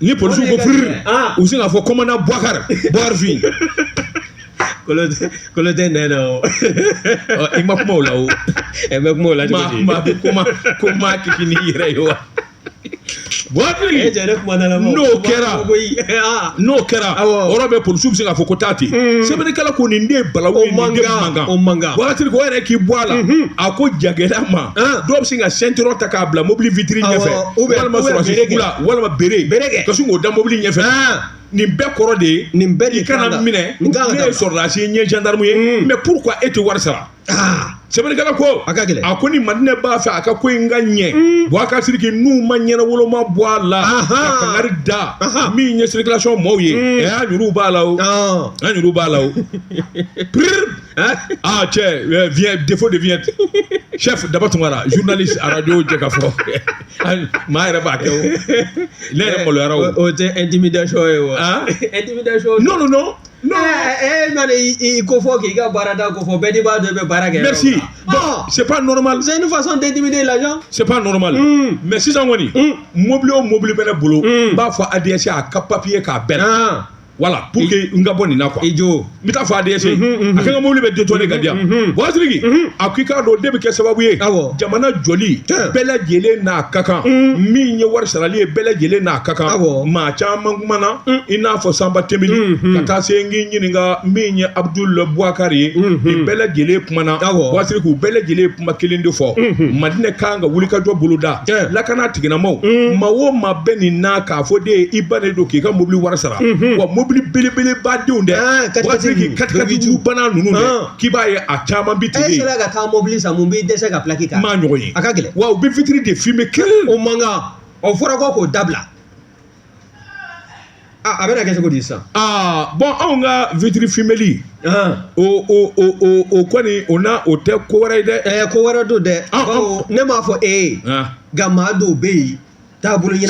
ni polisiw ko firi u bɛ sin k'a fɔ kɔmandan Boubacar Boubacar fin kolo tɛ nɛn na o i ma kuma o la o e bɛ kuma o la cogo di maa kuma ko maa kisi n'i yɛrɛ ye wa Boubacar Sidiki n'o kɛra n'o kɛra o yɔrɔ bɛɛ polisiw bɛ sin k'a fɔ ko taa ten sɛbɛnnikɛla ko nin de balawu ye nin de man kan o man kan Boubacar Sidiki ko o yɛrɛ k'i bɔ a la a ko jagɛlɛya ma dɔw bɛ sin ka ceinturon ta k'a bila mobili witiri ɲɛfɛ. u bɛ walima walima bere bere ka sin k'o da mobili ɲɛfɛ nin bɛɛ kɔrɔ de ye nin bɛɛ i kana n minɛ ne ye sɔrɔdasi ye n ye gendarme ye mais pourquoi e tɛ wari sara sɛbɛnnikɛla ko a ka gɛlɛn a ko ni madinɛ b'a fɛ a ka ko in ka ɲɛ Boubacar Sidiki n'u ma ɲɛnawoloma bɔ a la ka kangari da min ye circulation maaw ye a y'a juru b'a la a juru b'a la o Aa cɛ defo de vyɛn cɛ daba tun zundali arajo jɛ ka fɔ maa yɛrɛ b'a kɛ ne yɛrɛ maloyara o tɛ e dimi da sɔ ye wa e dimi da sɔ n' don e na i ko fɔ k'i ka baara da ko fɔ bɛɛ de b'a dɔn bɛ baara kɛ mɛsi sep nɔnɔma ni fasɔn tɛ dimi de la sep nɔnɔma mɛ sisan kɔniɔni mɔbili o mɔbili bɛ ne bolo n b'a fɔ a dɛsɛse a ka papiye k'a bɛnna voilà pour que n ka bɔ nin na quoi i jo n bɛ taa fɔ ADS ye a ka n ka mobili bɛɛ dédouaner ka di yan wa Sidiki a ko i k'a dɔn o de bɛ kɛ sababu ye Awɔ. jamana jɔli Tiɲɛ. bɛɛ lajɛlen n'a ka kan min ye wari sarali ye bɛɛ lajɛlen n'a ka kan Awɔ. maa caman kumana i n'a fɔ Sanba Tembeli ka taa se n k'i ɲininka min ye Abdul Boubacar ye nin bɛɛ lajɛlen kumana Awɔ. wa Sidiki u bɛɛ lajɛlen kuma kelen de fɔ madinɛ kan ka wulikajɔ boloda lakana tiginamaaw maa o maa bɛ nin na k'a fɔ de ye i ba de don k'i ka mobili wari sara wa mobili belebeleba denw dɛ wa Sidiki katikatijugu bana ninnu dɛ k'i b'a ye a caman bi tigɛ yen ka taa mobili san mun b'i dɛsɛ ka pilaki kan maa ɲɔgɔn ye a ka gɛlɛn wa u bɛ vitre de fumé kelen o man kan o fɔra ko k'o dabila A bɛna kɛ cogo di sa bon anw ka vitre fuméli o kɔni o na o tɛ ko wɛrɛ ye dɛ ɛ ko wɛrɛ don dɛ ne m'a fɔ e ye nka maa dɔw bɛ yen taabolo la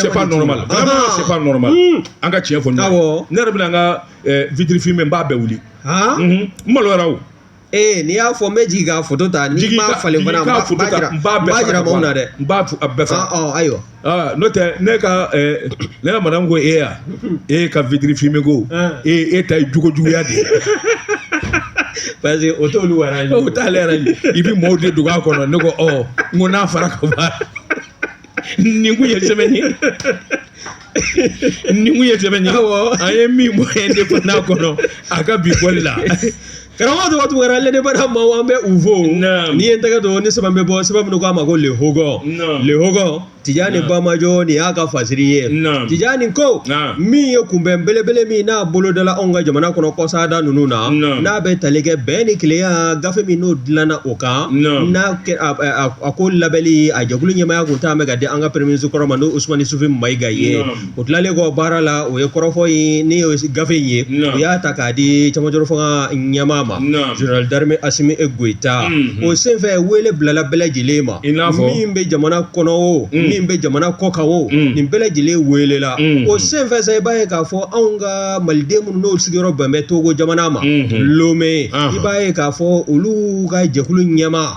an ka cɛn fɔ ne yɛrɛ bɛna n ka vitre fumé n b'a bɛɛ wuli n maloyara ee n'i y'a fɔ n bɛ jigin k'a foto ta n'i m'a falen fana n b'a jira n b'a jira maaw na dɛ N b'a f- a bɛɛ faga. Ɔ, ɔ, ayiwa Ah, n'o tɛ ne ka ɛɛ, ne ka madame ko e ya e ka vitre fumé ko e e ta ye jogo juguya de ye. parce que o t'olu arrange o t'ale arrange i bɛ mɔɔw de dogo a kɔnɔ ne ko ɔ n ko n'a fara ka ban nin kun ye sɛbɛnni ye ni mun ye sɛbɛn ye an ye min bɔ Indépendant kɔnɔ a ka bi bɔli la karamɔgɔ tɔgɔ tɔgɔ kɛra ale n'a bara maaw an bɛ u fo n'i ye n tɛgɛ don ni sɛbɛn bɛ bɔ sɛbɛn min k'a ma ko Le Hogon Le Hogon Tijani Bamajɔ nin y'a ka fasiri ye Tijani ko min ye kunbɛn belebele min n'a bolodala anw ka jamana kɔnɔ kɔsada ninnu na n'a bɛ tali kɛ bɛn ni kelenya gafe min n'o dilanna o kan a ko labɛnli a jɛkulu ɲɛmaaya tun taama ka di an ka premier ministre kɔrɔ ma n'o Usumani Sufi Mayiga ye o tilalen kɔ baara la o ye kɔrɔfɔ in ni gafe in ye u y'a ta k'a di camancɛrɔ fanga ɲɛmaa ma général d'armée Assimi Goïta o senfɛ wele bilala bɛɛ lajɛlen ma i n'a fɔ min bɛ jamana kɔnɔ o min bɛ jamana kɔkan o nin bɛɛ lajɛlen welela o senfɛ i b'a ye k'a fɔ anw ka maliden minnu n'o sigiyɔrɔ bɛn bɛ togo jamana ma lomɛ i b'a ye k'a fɔ olu ka jɛkulu ɲɛmaa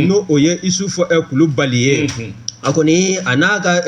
n'o o ye Isufu Kulubali ye a kɔni a n'a ka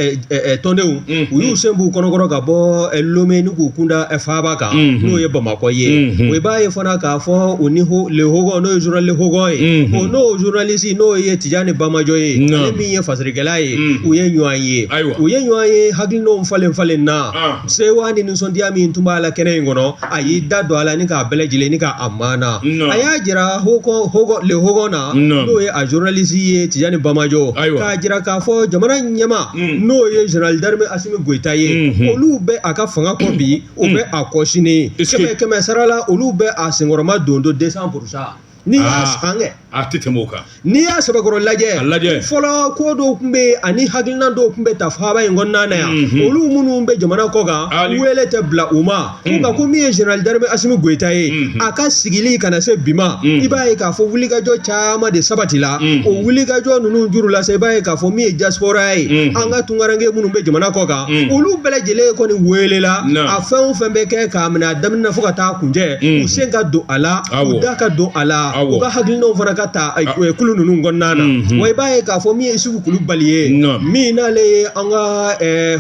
tɔndenw u y'u sen b'u kɔnɔkɔrɔ ka bɔ lomɛ ni k'u kunda faaba kan n'o ye bamakɔ ye wa i b'a ye fana k'a fɔ u ni Le Hogon n'o ye journal Le Hogon ye o n'o journaliste n'o ye Tijani Bamajo ye min ye fasirikɛla ye u ye ɲɔgɔn ye u ye ɲɔgɔn ye hakilinaw falen falen na sewa ni nisɔndiya min tun b'a la kɛnɛ in kɔnɔ a y'i da don a la ni k'a bɛɛ lajɛlen ni k'a maana Non. a y'a jira Hogon Le Hogon na Non. n'o ye a journaliste ye Tijani Bamajo Ayiwa. k'a jira k'a fɔ jamana ɲɛmaa Mm. n'o ye général d'armée Assimi Goïta ye Mhm. olu bɛ a ka fanga kɔ bi u bɛ a kɔ sini kɛmɛ kɛmɛ sara la olu bɛ a senkɔrɔmadondon 200 pour cent Ni kɛ a tɛ tɛmɛ o kan n'i y'a sabakɔrɔ lajɛ lajɛ fɔlɔ ko dɔw tun bɛ ani hakilina dɔw tun bɛ ta faaba in kɔnɔna na yan olu minnu bɛ jamana kɔ kan wele tɛ bila u ma nka ko min ye général d'armée Assimi Goïta ye a ka sigili ka na se bi ma i b'a ye k'a fɔ wulikajɔ caman de sabati la o wulikajɔ ninnu juru la i b'a ye k'a fɔ min ye diaspora ye an ka tunkaranke minnu bɛ jamana kɔ kan olu bɛɛ lajɛlen kɔni welela a fɛn o fɛn bɛ kɛ k'a minɛ a daminɛ fo ka taa kuncɛ u sen ka don a la u da ka don a la u ka hakilinaw fana ka ta kulu ninnu kɔnɔna na wa i b'a ye k'a fɔ min ye Isufu kulubali ye min n'ale ye an ka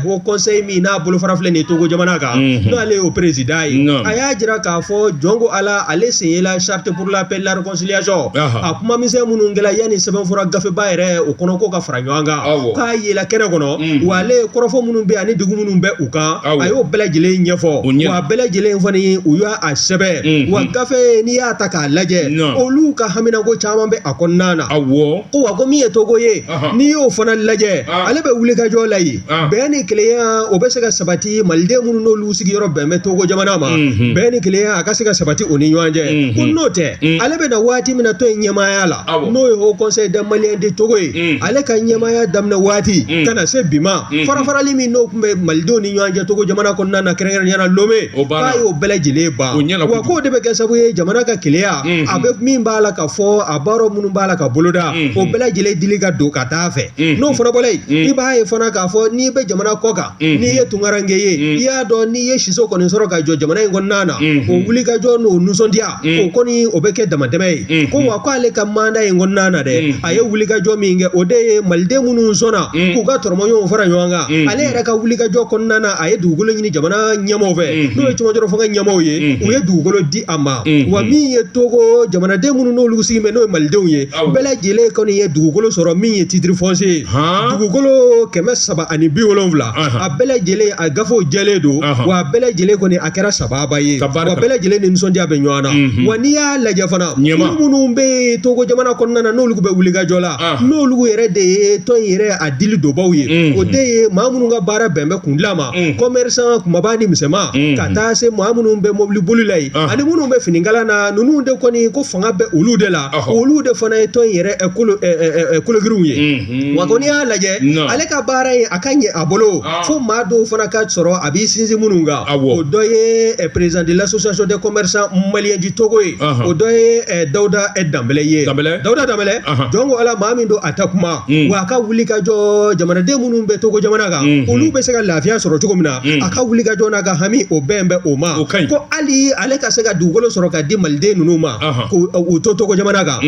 haut conseil min n'a bolofara filɛ nin ye Togo jamana kan n'ale y'o président ye a y'a jira k'a fɔ jɔn ko Ala ale sen yela charte pour la paix et la réconciliation a kuma misɛn minnu kɛra yanni sɛbɛnfura gafeba yɛrɛ o kɔnɔ ko ka fara ɲɔgɔn kan k'a yela kɛnɛ kɔnɔ wa ale ye kɔrɔfɔ minnu bɛ ani degun minnu bɛ u kan a y'o bɛɛ lajɛlen ɲɛfɔ wa a bɛɛ lajɛlen fana ye u y'a a sɛbɛn Unhun. wa gafe n'i y'a ta k'a lajɛ Nɔn. olu ka haminako caman bɛ a kɔnɔna na awɔ ko wa ko min ye togo ye Ahan. n'i y'o fana lajɛ Ah. ale bɛ wulikajɔ la yen Ah. bɛn ni kelenya o bɛ se ka sabati maliden minnu n'olu sigiyɔrɔ bɛn bɛ togo jamana ma Mhm. bɛn ni kelenya a ka se ka sabati u ni ɲɔgɔn cɛ Mhm. ko n'o tɛ Mm. ale bɛ na waati min na tɔn in ɲɛmaaya la Awɔ. n'o ye haut conseil des Maliens de Togo ye Mm. ale ka ɲɛmaaya daminɛ waati Mm. ka na se bi ma Mhm. farafarali min n'o tun bɛ malidenw ni ɲɔgɔn cɛ togo jamana kɔnɔna na kɛrɛnkɛrɛnnenya la lome O banna, k'a y'o bɛɛ lajɛlen ban, o ɲɛna kojugu, wa k'o de bɛ kɛ sababu ye jamana ka kelenya, unhun, a bɛ min b'a la ka fɔ a baaraw minnu b'a la ka boloda, unhun, o bɛɛ lajɛlen dili ka don ka taa fɛ, unhun, n'o fana bɔla yen, unhun, i b'a ye fana k'a fɔ n'i bɛ jamana kɔ kan, unhun, n'i ye tunkaranke ye, unhun, i y'a dɔn n'i ye siso kɔni sɔrɔ ka jɔ jamana in kɔnɔna na, unhun, o wulikajɔ n'o nisɔndiya o kɔni o bɛ kɛ damatɛmɛ ye ko wa k'ale ka manda in kɔnɔna na dɛ a ye wulikajɔ min kɛ o de ye maliden minnu sɔnna k'u ka dɔrɔmɛw fara ɲɔgɔn kan ale yɛrɛ ka wulikajɔ kɔnɔna na a ye dugukolo ɲini jamana ɲɛmɔgɔ fɛ n'o ye cɛmadɔrɔ fanga ɲɛmɔgɔ ye u ye dugukolo di a ma wa min ye togo jamanaden minnu n'olu sigi bɛ n'o ye malidenw ye bɛɛ lajɛlen kɔni ye dugukolo sɔrɔ min ye titre foncier ye dugukolo kɛmɛ saba ani bi wolonwula a bɛɛ lajɛlen a gafew jɛlen don wa bɛɛ lajɛlen kɔni a kɛra sababa ye wa bɛɛ lajɛlen ni nisɔndiya bɛ ɲɔgɔn na wa n'i y'a lajɛ fana ɲɛma minnu bɛ yen togo jamana kɔnɔna na n'olu bɛ wulikajɔ la n'olu yɛrɛ de ye tɔn in yɛrɛ a dili donbaaw ye o de ye maa minnu ka baara bɛn bɛ kundilan ma commerçant kunbaba ni misɛnman ka taa se maa minnu bɛ mɔbili boli la yen ani minnu bɛ finikala na ninnu de kɔni ko fanga bɛɛ olu de la olu de fana ye tɔn in yɛrɛ kologirinw ye Wa ko n'i y'a lajɛ ale ka baara ye a ka ɲɛ a bolo fo maa dɔw fana ka sɔrɔ a b'i sinsin minnu kan o dɔ ye président de l'association des commerçants maliens du togo ye o dɔ ye dawuda danbɛlɛ ye dawuda danbɛlɛ jɔn ko ala maa min don a ta kuma wa a ka wulikajɔ jamanaden minnu bɛ togo jamana kan olu bɛ se ka lafiya sɔrɔ cogo min na a ka wulikajɔ n'a ka hami o bɛn bɛ o ma ko hali ale ka se ka dugukolo sɔrɔ ka di maliden ninnu ma u to togo jamana kan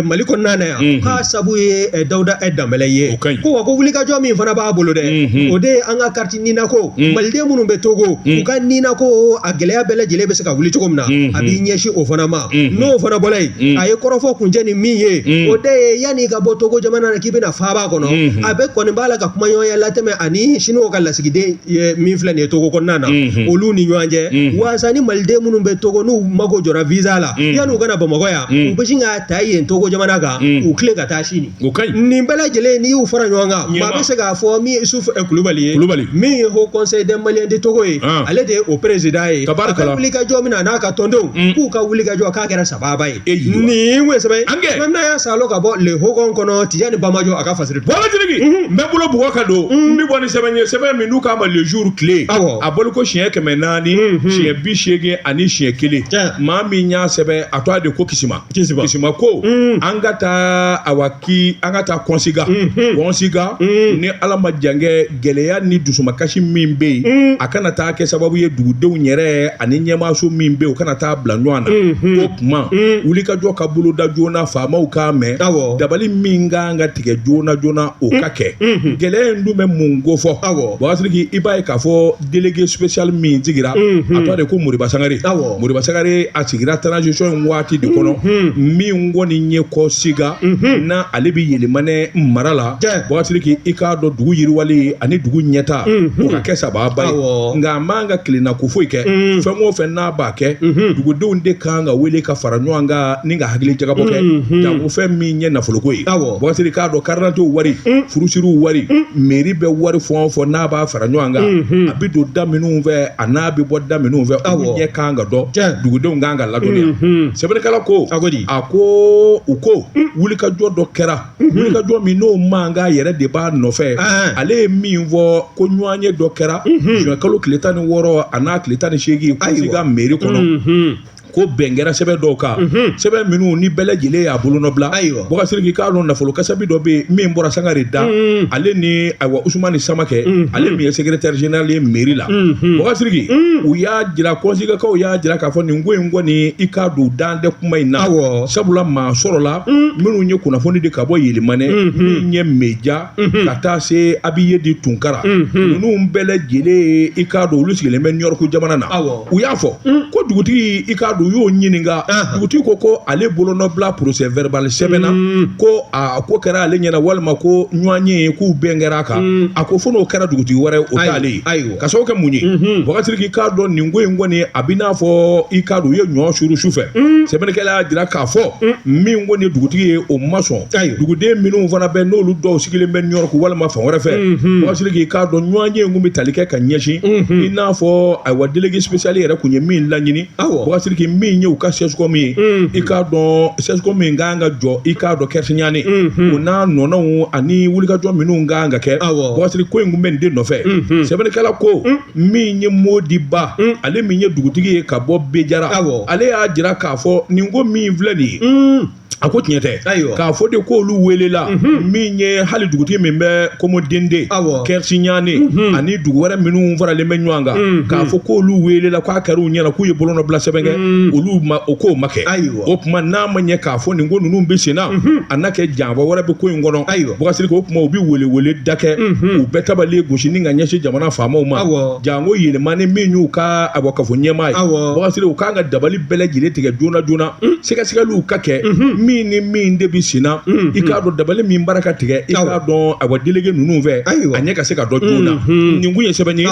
mali kɔnɔna na yan k'a sabu ye dawuda e danbɛlɛ ye ko wa ko wulikajɔ min fana b'a bolo dɛ o de ye an ka karti nina ko maliden minnu bɛ togo u ka nina ko a gɛlɛya bɛɛ lajɛlen bɛ se ka wuli cogo min na a b'i ɲɛsin o fana ma n'o fana bɔlen yen a ye kɔrɔfɔ kuncɛ ni min ye o de ye yanni i ka bɔ togo jamana na k'i bɛna faaba kɔnɔ a bɛ kɔni b'a la ka kumaɲɔgɔnya latɛmɛ ani sinuwa ka lasigiden min filɛ nin ye togo kɔnɔna na olu ni ɲɔgɔn cɛ walasa ni maliden minnu bɛ togo n'u mago jɔra visa la yann'u ka na bamakɔ yan u bɛ sin k'a ta yen togo jamana kan u tilen ka taa sini nin bɛɛ lajɛlen n'i y'u fara ɲɔgɔn kan maa bɛ se k'a fɔ min ye isufu kulubali ye kulubali min ye haut conseil des maliens du togo ye ale de ye o président ye ka wuli ka jɔ min na n'a ka tɔndenw k'u ka wuli ka jɔ k'a kɛra sababa ye e yi nin we sɛbɛ an kɛ n'a y'a salo ka bɔ le hogon kɔnɔ tijani bamajɔ a ka fa baba n bɛ bolo bug ka don n bɛ bɔ ni sɛbɛn ye sɛbɛn min n'u k'a ma le jour tile a bolo ko siɲɛ kɛmɛ naani siɲɛ bi seegin ani siɲɛ kelen maa min y'a sɛbɛn a tɔgɔ de ko kisima kisima ko an ka taa a k'i an ka taa kɔnsiga kɔnsiga ni ala ma jankɛ gɛlɛya ni dusumakasi min bɛ yen a kana taa kɛ sababu ye dugudenw yɛrɛ ani ɲɛmaaso min bɛ yen u kana taa bila ɲɔgɔn na o tuma wulikajɔ ka boloda joona faamaw k'a mɛn dabali min kan ka tigɛ joona joona o ka kɛ gɛlɛya in dun bɛ mun ko fɔ bɔkasiriki i b'a ye k'a fɔ délégué spécial min sigira a tɔgɔ de ko moriba sangare Awɔ. moriba sangare a sigira transition in waati de kɔnɔ min kɔni ye kɔnsiga na ale bɛ yɛlɛmanɛ mara la Tiɲɛ. bɔkasiriki i k'a dɔn dugu yiriwali ani dugu ɲɛtaa o ka kɛ sababa ye Awɔ. nka a man ka kelenna ko foyi kɛ fɛn o fɛn n'a b'a kɛ dugudenw de kan ka wele ka fara ɲɔgɔn kan ni ka hakili jagabɔ kɛ janko fɛn min ye nafoloko ye Awɔ. bɔkasiriki k'a dɔn karidantew wari furusiriw wari meri bɛ wari fɛn o fɛn n'a b'a fɛ fara ɲɔgɔn kan a bɛ don da minnu fɛ a n'a bɛ bɔ da minnu fɛ aw ɲɛ kan ka dɔn dugudenw kan ka ladɔnniya sɛbɛnnikɛla ko a ko a ko u ko wulikajɔ dɔ kɛra wulikajɔ min n'o man kan yɛrɛ de b'a nɔfɛ ale ye min fɔ ko ɲɔgɔnye dɔ kɛra zuwɛn kalo tile tan ni wɔɔrɔ a n'a tile tan ni seegin kɔnsiga meri kɔnɔ ko bɛn kɛra sɛbɛn dɔw kan sɛbɛn minnu ni bɛɛ lajɛlen y'a bolonɔbila Ayiwa. bɔkasiriki k'a dɔn nafolo kasabi dɔ bɛ yen min bɔra sangare da ale ni ayiwa usumani samakɛ ale min ye sekretɛri general ye meri la bɔkasiriki u y'a jira kɔnsigakaw y'a jira k'a fɔ nin ko in kɔni i k'a dɔn dan tɛ kuma in na Awɔ. sabula maa sɔrɔla minnu ye kunnafoni di ka bɔ yelemane min ye meja ka taa se abiye di tunkara ninnu bɛɛ lajɛlen i k'a dɔn olu sigilen bɛ ɲɔrɔku jamana na u y'a fɔ ko dugutigi i k'a dɔn u y'o ɲininka dugutigi ko ko ale bolonɔbila porosɛ vɛrɛbali sɛbɛn na ko a ko kɛra ale ɲɛna walima ko ɲɔgɔnye k'u bɛn kɛra a kan a ko fo n'o kɛra dugutigi wɛrɛ o t'ale ye ka sababu kɛ mun ye bɔkasiriki k'a dɔn nin ko in kɔni a bɛ n'a fɔ i k'a dɔn u ye ɲɔ suru su fɛ sɛbɛnnikɛla y'a jira k'a fɔ min kɔni dugutigi ye o ma sɔn duguden minnu fana bɛ n'olu dɔw sigilen bɛ ɲɔrɔku walima fan wɛrɛ fɛ bɔkasiriki i k'a dɔn ɲɔgɔnye in kun bɛ tali kɛ ka ɲɛsin i n'a fɔ ayiwa delege sipesiyali yɛrɛ kun ye min laɲini bɔkasiriki min ye u ka sɛsikɔmu ye i k'a dɔn sɛsikɔmu min ka kan ka jɔ i k'a dɔn kɛrisiɲani o n'a nɔnaw ani wulikajɔ minnu ka kan ka kɛ bɔkasiriki ko in kun bɛ nin de nɔfɛ sɛbɛnnikɛla ko min ye mɔdiba ale min ye dugutigi ye ka bɔ bejara ale y'a jira k'a fɔ nin ko min filɛ nin ye A ko tiɲɛ tɛ k'a fɔ de ko olu weelela min ye hali dugutigi min bɛ komodende kɛrisiɲani ani dugu wɛrɛ minnu faralen bɛ ɲɔgɔn kan k'a fɔ ko olu weelela k'a kɛra u ɲɛna k'u ye bolonɔbila sɛbɛn kɛ olu o k'o ma kɛ ayi o tuma n'a ma ɲɛ k'a fɔ nin ko ninnu bɛ senna a n'a kɛ janfa wɛrɛ bɛ ko in kɔnɔ bɔkasiriki o tuma u bɛ weleweleda kɛ u bɛ tabale gosi ka ɲɛsin jamana faamaw ma janko yelemane min y'u ka awa kafo ɲɛmaa ye bɔkasiriki u kan ka dabali bɛɛ lajɛlen tigɛ joona joona sɛgɛsɛgɛliw ka kɛ min ni min de bɛ senna i k'a dɔn dabali min b'a la ka tigɛ i k'a dɔn awa delege ninnu fɛ a ɲɛ ka se ka dɔn joona nin kun ye sɛbɛn ye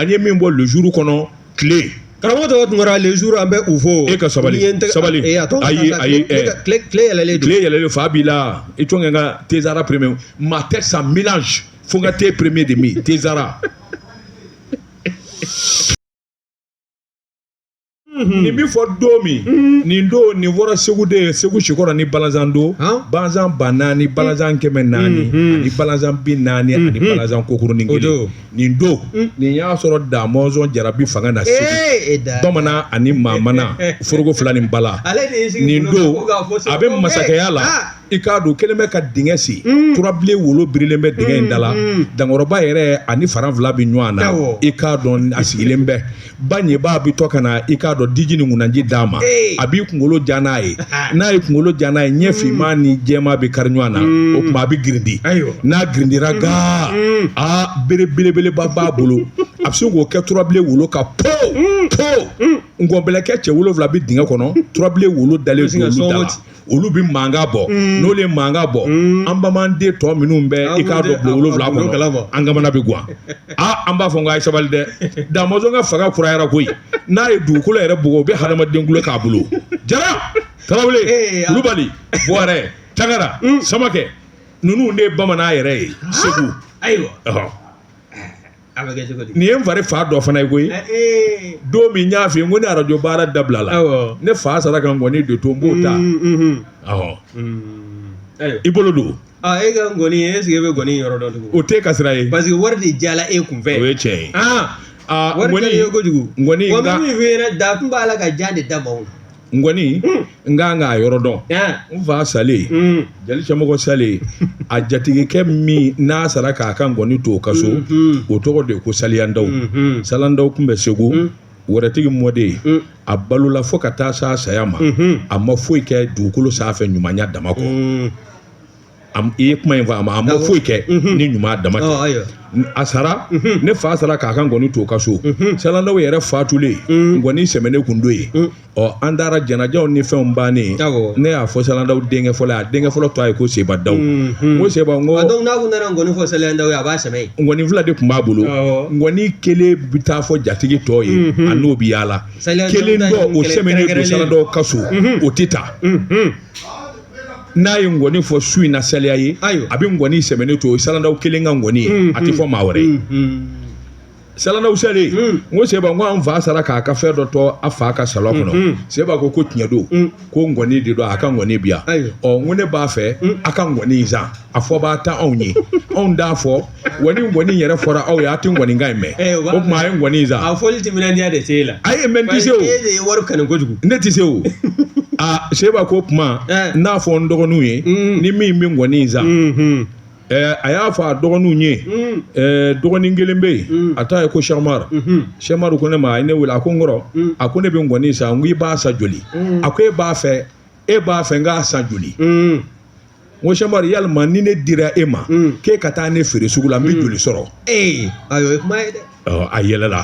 an ye min bɔ lezuru kɔnɔ tile karamɔgɔ tɔgɔ tun kɛra lezuru an bɛ u fo e ka sabali sabali ayi ayi tile yɛlɛlen tile yɛlɛlen fa b'i la i tɔn ka tezsara pereme ma tête ça mélange fo n ka te pereme de min tezsara Mhm. nin bɛ fɔ don min mhm. nin don nin fɔra segu de ye segu sikɔrɔ ni balazan don balazan ba naani balazan mhm. kɛmɛ naani ani balazan bi naani ani balazan kɔkurunin kelen nin don nin y'a sɔrɔ damɔnzɔn jara bɛ fanga na segu e bamanan ani maamana foroko fila ni bala nin don a bɛ masakɛya la ah! i k'a dɔn kelen bɛ ka dingɛ sen mm. turabilen wolo birilen bɛ dingɛ in da la mm, mm. dankɔrɔba yɛrɛ ani faran fila bɛ ɲɔgɔn na i k'a dɔn a sigilen bɛ ba ɲɛbaa bɛ to ka na i k'a dɔn diji ni ŋunanji d'a ma a b'i kunkolo ja n'a ye n'a y'i kunkolo ja n'a ye ɲɛ finman ni jɛma bɛ kari ɲɔgɔn na o tuma a bɛ girindi n'a girindira gaa aa bere belebeleba b'a bolo a bɛ se k'o kɛ turabilen wolo ka po po nkɔnbɛlɛkɛ cɛ wolonwula bɛ dingɛ kɔnɔ turabilen wolo dalen don olu da la olu bɛ mankan bɔ n'olu ye mankan bɔ an bamananden tɔ minnu bɛ i k'a dɔn bulon wolonwula kɔnɔ an kamana bɛ gan aa an b'a fɔ n ko a ye sabali dɛ da mɔnzɔn ka fanga kurayara koyi n'a ye dugukolo yɛrɛ bugɔ o bɛ hadamaden kolo k'a bolo jara tarawele kulubali buwarɛ tangara samakɛ ninnu de ye bamanan yɛrɛ ye segu ayiwa nin ye n fari fa dɔ fana ye koyi don min n y'a f'i ye ko ni arajo baara dabilala ne fa sara ka nkɔni de to n b'o ta i bolo don e ka nkɔni est-ce que e bɛ nkɔni yɔrɔ dɔn tugun o t'e ka sira ye parce que wari de jala e kun fɛ o ye tiɲɛ ye wari de ye kojugu nkɔni min fɛ da tun b'a la ka jan de da maaw nkɔni n ka kan k'a yɔrɔ dɔn n fa salen jeli cɛmɔgɔ salen a jatigikɛ min n'a sara k'a ka nkɔni to o ka so o tɔgɔ de ko saliyandaw salandaw tun bɛ segu wɛrɛtigi mɔden a balola fo ka taa s'a saya ma a ma foyi kɛ dugukolo sanfɛ ɲumanya dama kɔ i ye kuma in fɔ a ma a ma foyi kɛ ni ɲuman dama tɛ a sara ne fa sara k'a ka nkɔni to o ka so salandaw yɛrɛ fatulen nkɔni sɛmɛnen kun don yen ɔ an taara janajaw ni fɛnw bannen ne y'a fɔ salandaw denkɛ fɔlɔ a denkɛ fɔlɔ tɔgɔ ye ko sebandaw n ko seba n ko nkɔni fɔ salandaw ye a b'a sɛmɛ nkɔni fila de tun b'a bolo nkɔni kelen bɛ taa fɔ jatigi tɔ ye a n'o bɛ yaala kelen o sɛmɛnen don salandaw ka so o tɛ taa n'a ye ngɔni fɔ su in na saliya ye ayiwa a bɛ ngɔni sɛmɛnen to o ye salandaw kelen ka ngɔni ye a tɛ fɔ maa wɛrɛ ye salandaw salen n ko seba n ko an fa sara k'a ka fɛn dɔ to a fa ka salon kɔnɔ seba ko ko tiɲɛ don ko ngɔni de don a ka ngɔni bi yan ɔ n ko ne b'a fɛ a ka ngɔni in san a fɔbaa t'aw ye aw t'a fɔ ni ŋɔni yɛrɛ fɔra aw ye a tɛ ŋɔnikan in mɛn eh, o tuma a ye ŋɔni in san a fɔli timinandiya de t'e la a ye mɛ n tɛ se o e de ye wari kanu kojugu ne tɛ se o a seba k'o tuma eh. n'a fɔ n dɔgɔninw ye mm. ni min bɛ ŋɔni in san mm-hmm. eh, a y'a fɔ a dɔgɔninw ye mm. dɔgɔnin kelen bɛ yen mm. a tɔgɔ ye ko sɛmar sɛmar mm-hmm. ko ne ma a ye ne wele a ko n kɔrɔ a ko ne bɛ ŋɔni san n ko i b'a san joli a ko e b'a fɛ e b'a fɛ n k'a san joli n ko sɛmari yalima ni ne dira e ma mm. k'e ka taa ne feere sugu la n bɛ mm. joli sɔrɔ ee ayiwa o ye kuma ye dɛ a yɛlɛla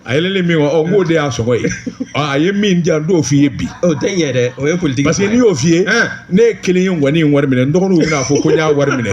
a yɛlɛlen min kɔ n k'o de y'a sɔngɔ ye a ye min di yan n t'o f'i ye bi o tɛ ɲɛ dɛ o ye politiki parce que ni n y'o f'i ye ne ye kelen ye ŋɔni in wari minɛ n dɔgɔninw bɛna fɔ ko n y'a wari minɛ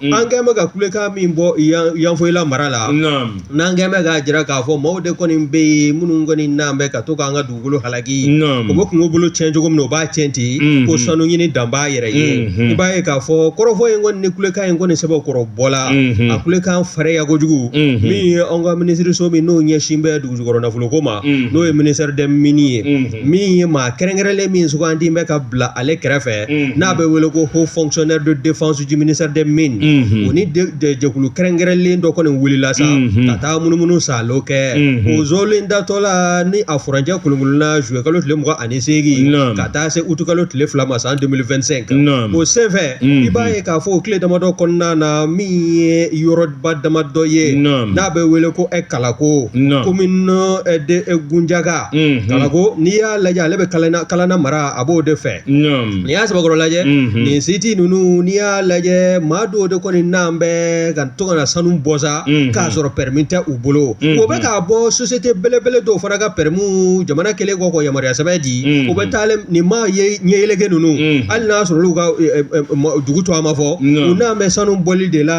an kɛlen bɛ ka kulekan min bɔ yanfoyila mara la n'an kɛlen bɛ k'a jira k'a fɔ maaw de kɔni bɛ yen minnu kɔni nalen bɛ ka to k'an ka dugukolo halaki u bɛ kungo bolo cɛn cogo min u b'a cɛn ten ko sanu ɲini dan b'a yɛrɛ ye i b'a ye k'a fɔ kɔrɔfɔ in kɔni ni kulekan in kɔni sɛbɛkɔrɔ bɔla a kulekan farinya kojugu min ye an ka minisiriso min n'o ɲɛsin bɛ dugujukɔrɔ nafoloko ma n'o ye ministère des mines ye min ye maa kɛrɛnkɛrɛnlen min sugandi bɛ ka bila ale kɛrɛfɛ n'a bɛ wele ko haut fonctionnaire de défense du ministère des mines o ni jɛkulu kɛrɛnkɛrɛnlen dɔ kɔni wulila sa ka taa munumunu salo kɛ o zolen datɔ la ni a furancɛ kolonkolola zuyekalo tile mugan ani seegin ka taa se utukalo tile fila ma san deux mille vingt-cinq o senfɛ i b'a ye k'a fɔ o tile damadɔ kɔnɔna na min ye yɔrɔ ba damadɔ ye Naam. n'a bɛ wele ko ɛ kalako Naam. commune ɛ de ɛ gunjaga Mhm. kalako n'i y'a lajɛ ale bɛ kalana kalana mara a b'o de fɛ Naam. n'i y'a sɛbɛkɔrɔ lajɛ Mhm. nin siti ninnu n'i y'a lajɛ maa dɔw de kɔni nalen bɛ ka to ka na sanu bɔ sa Mhm. k'a sɔrɔ pɛrɛmi tɛ u bolo Mhm. o bɛ k'a bɔ sosiyete belebele dɔw fana ka pɛrɛmu jamana kɛlen kɔ ka yamaruya sɛbɛn di Mhm. o bɛ taa ale- nin maa ye ɲɛyeleke ninnu Mhm. hali n'a sɔrɔ olu ka ɛ, ɛ, ɛ, ma- dugu tɔgɔ ma fɔ Non. u nalen bɛ sanu bɔli de la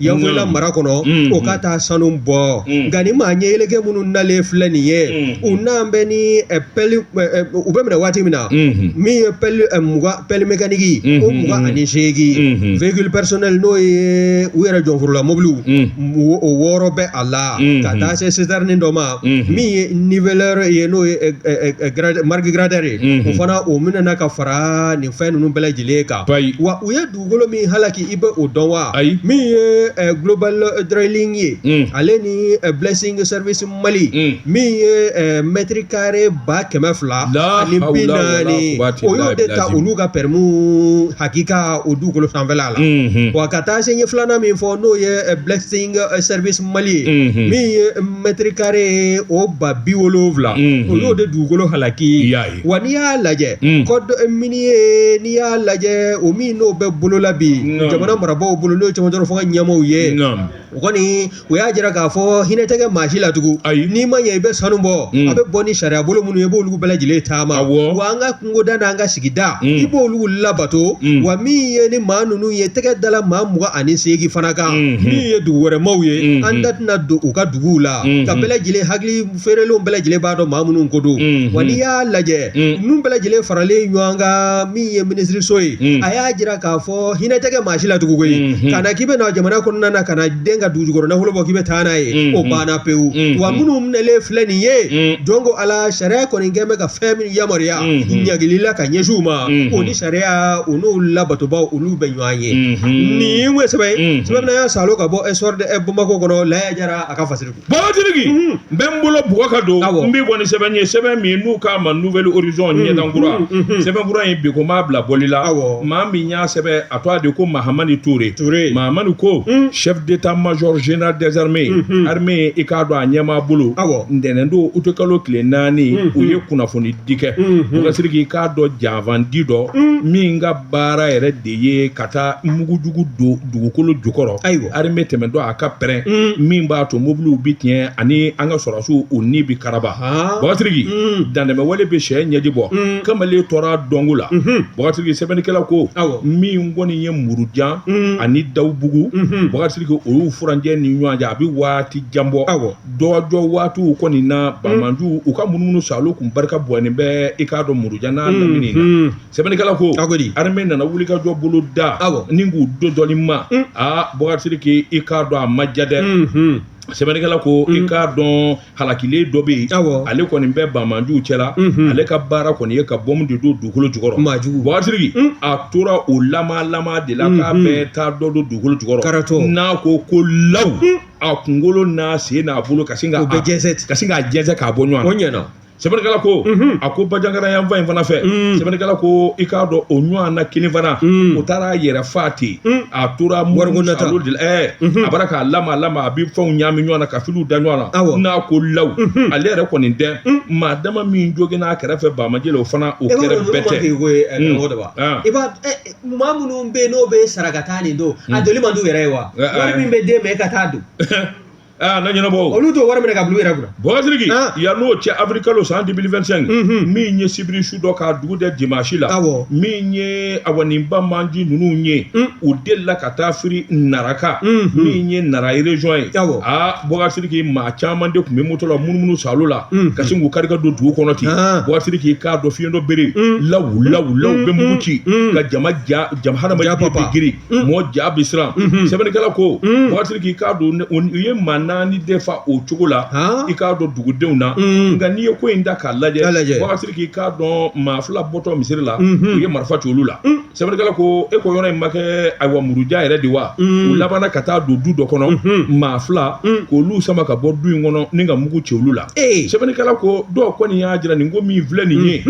Yanfoyila mara kɔnɔ o ka taa sanu bɔ nka ni maa ɲɛyeleke minnu nalen filɛ nin ye u nalen bɛ ni pelle u bɛ minɛ waati min na min ye pelle mécanique o mugan ani seegin véhicule personnel n'o ye u yɛrɛ jɔnforola mobiliw o wɔɔrɔ bɛ a la ka taa se citerne dɔ ma min ye niveleur ye n'o ye marque grader o fana o minɛna ka fara nin fɛn ninnu bɛɛ lajɛlen kan wa u ye dugukolo min halaki i bɛ o dɔn wa Ayi. min ye eh, global eh, drilling ye Mm. ale ni eh, blessing service mali Mm. min ye eh, mètre carré ba kɛmɛ fila La ani bi hawla wala naani quwwata o y'o illa de ta billahi. olu ka pɛrɛmu hakika o dugukolo sanfɛla la Mhm. wa ka taa se ɲɛ filanan min fɔ n'o ye eh, blessing eh, service mali ye Mhm. min ye mètre carré o ba bi wolonwula Mhm. o y'o de dugukolo halaki I y'a ye. wa n'i y'a lajɛ Mm. code minier n'i y'a lajɛ o min n'o bɛ bolola bi Non. jamana marabaaw bolo n'o ye cɛmancɛ fanga ɲɛmaaw ye Naam. o kɔni o y'a jira k'a fɔ hinɛ tɛ kɛ maa si la tugun Ayi. n'i ma ɲɛ i bɛ sanu bɔ Mm. a bɛ bɔ ni sariya bolo minnu ye i b'olu bɛɛ lajɛlen taama Awɔ. wa an ka kungoda n'an ka sigida Mm. i b'olu labato Mm. wa min ye ni maa ninnu ye tɛgɛ dala maa mugan ani seegin fana kan Mhm. min ye dugu wɛrɛ maaw ye Mhm. an da tɛna don u ka duguw la Mhm. ka bɛɛ lajɛlen hakili feerelenw bɛɛ lajɛlen b'a dɔn maa minnu ko don wa n'i y'a lajɛ ninnu bɛɛ lajɛlen faralen ɲɔgɔn kan min ye minisiriso ye a y'a jira k'a fɔ hinɛ tɛ kɛ maa si la tugun koyi ka na k'i bɛ na jamana kɔnɔna na ka na den ka dugu jukɔrɔ nafolo bɔ k'i bɛ taa n'a ye o banna pewu wa minnu minɛlen filɛ nin ye jɔn ko ala sariya kɔni kɛ bɛ ka fɛn min yamaruya ɲangili la ka ɲɛsin u ma o ni sariya u n'o labatobaw olu bɛ ɲɔgɔn ye nin ye sɛbɛn ye sɛbɛn y'a sa ka bɔ Le Soir de Bamako kɔnɔ Laya Jara a ka fasiri Boubacar Sidiki n bɛ n bolo bugɔ ka don n bɛ bɔ ni sɛbɛn ye sɛbɛn min n'u k'a ma Nouvel Horizon ɲɛdankura sɛbɛnkura in bi ko m'a bila bɔli la awɔ maa min y'a sɛbɛn a tɔgɔ de ko Mahamani Ture Mahamani ko chef d'état-major général des armées armée i k'a dɔn a ɲɛmaa bolo awɔ ntɛnɛn don utikalo tile naani u ye kunnafoni di kɛ Boubacar Sidiki i k'a dɔn janfanci dɔ min ka baara yɛrɛ de ye ka taa mugujugu don dugukolo jukɔrɔ ayiwa armée tɛmɛtɔ a ka pɛrɛn min b'a to mobiliw bɛ tiɲɛ ani an ka sɔrɔsiw u ni bɛ karaba Boubacar Sidiki dantɛmɛwale bɛ cɛ ɲɛji bɔ kamalen tora donko la Boubacar Sidiki sɛbɛnnikɛla ko awɔ min kɔni ye Murujan ani Dawubugu Boubacar Sidiki olu furancɛ ni ɲɔgɔn cɛ a bɛ waati jan bɔ awɔ dɔjɔ waatiw kɔni na banbaanciw ka munumunu salo tun barika bɔnen bɛ i k'a dɔn Murujan n' sɛbɛnnikɛla ko a ko di armée nana wulikajɔ boloda awɔ ni k'u do dɔɔni ma un. aa Boubacar Sidiki i k'a dɔn a ma ja dɛ Mhm. sɛbɛnnikɛla ko i k'a dɔn halakilen dɔ bɛ yen Awɔ. ale kɔni bɛ banbaanciw cɛla Mhm. ale ka baara kɔni ye ka bɔmu de don dugukolo jukɔrɔ Maa jugu. Boubacar Sidiki Un. a tora o lama lama de la k'a Mhm. bɛ taa dɔ don dugukolo jukɔrɔ Karatɔ. n'a ko ko law a kunkolo n'a sen n'a bolo ka sin ka o bɛ jɛnsɛn ten ka sin k'a jɛnsɛn k'a bɔ ɲɔgɔn o na ɲɛna sɛbɛnnikɛla ko a ko Bajangara yanfan in fana fɛ sɛbɛnnikɛla ko i k'a dɔn o ɲɔgɔn na kelen fana o taara a yɛrɛ fa ten a tora wariko nata de la ɛɛ a bara k'a lama lama a bɛ fɛnw ɲaami ɲɔgɔn na ka filiw da ɲɔgɔn na n'a ko law ale yɛrɛ kɔni tɛ maa dama min jogin n'a kɛrɛfɛ banbaanci la o fana o kɛrɛbɛtɛ i b'a maa minnu bɛ yen n'u bɛ sara ka taa nin don a joli man d'u yɛrɛ ye wa wari min bɛ d'e ma e ka taa don aa na ɲɛnabɔ o olu t'o wari minɛ ka bil'u yɛrɛ kunna Boubacar Sidiki Ah. yan n'o cɛ awirilikalo san 2025 Mhm. min ye sibiri su dɔ k'a dugu jɛ dimansi la Awɔ. min ye awa nin banbaanci ninnu ye Mm. u delila ka taa firi Nara kan Mhm. min ye Nara région ye Awɔ. a Boubacar Sidiki maa caman de tun bɛ moto la munumunu salo la Mhm. ka sin k'u kari ka don dugu kɔnɔ ten Ah. Boubacar Sidiki k'a dɔn fiyentɔ bere Mm. lawu lawu lawu bɛ mugu ci Mm. ka jama ja jama hadamaden Ja papa. bɛ giri mɔ ja bɛ siran sɛbɛnnikɛla ko Bɔgasiriki k'a dɔn u ye maa naani de fa o cogo la i k'a dɔn dugudenw na nka n'i ye ko in da k'a lajɛ Bɔgasiriki k'a dɔn maa fila bɔtɔ misiri la u ye marifa ci olu la sɛbɛnnikɛla ko e ko yɔrɔ in ma kɛ ayiwa Muruja yɛrɛ de wa u labanna ka taa don du dɔ kɔnɔ maa fila k'olu sama ka bɔ du in kɔnɔ ni ka mugu ci olu la sɛbɛnnikɛla ko dɔw kɔni y'a jira nin ko min filɛ nin ye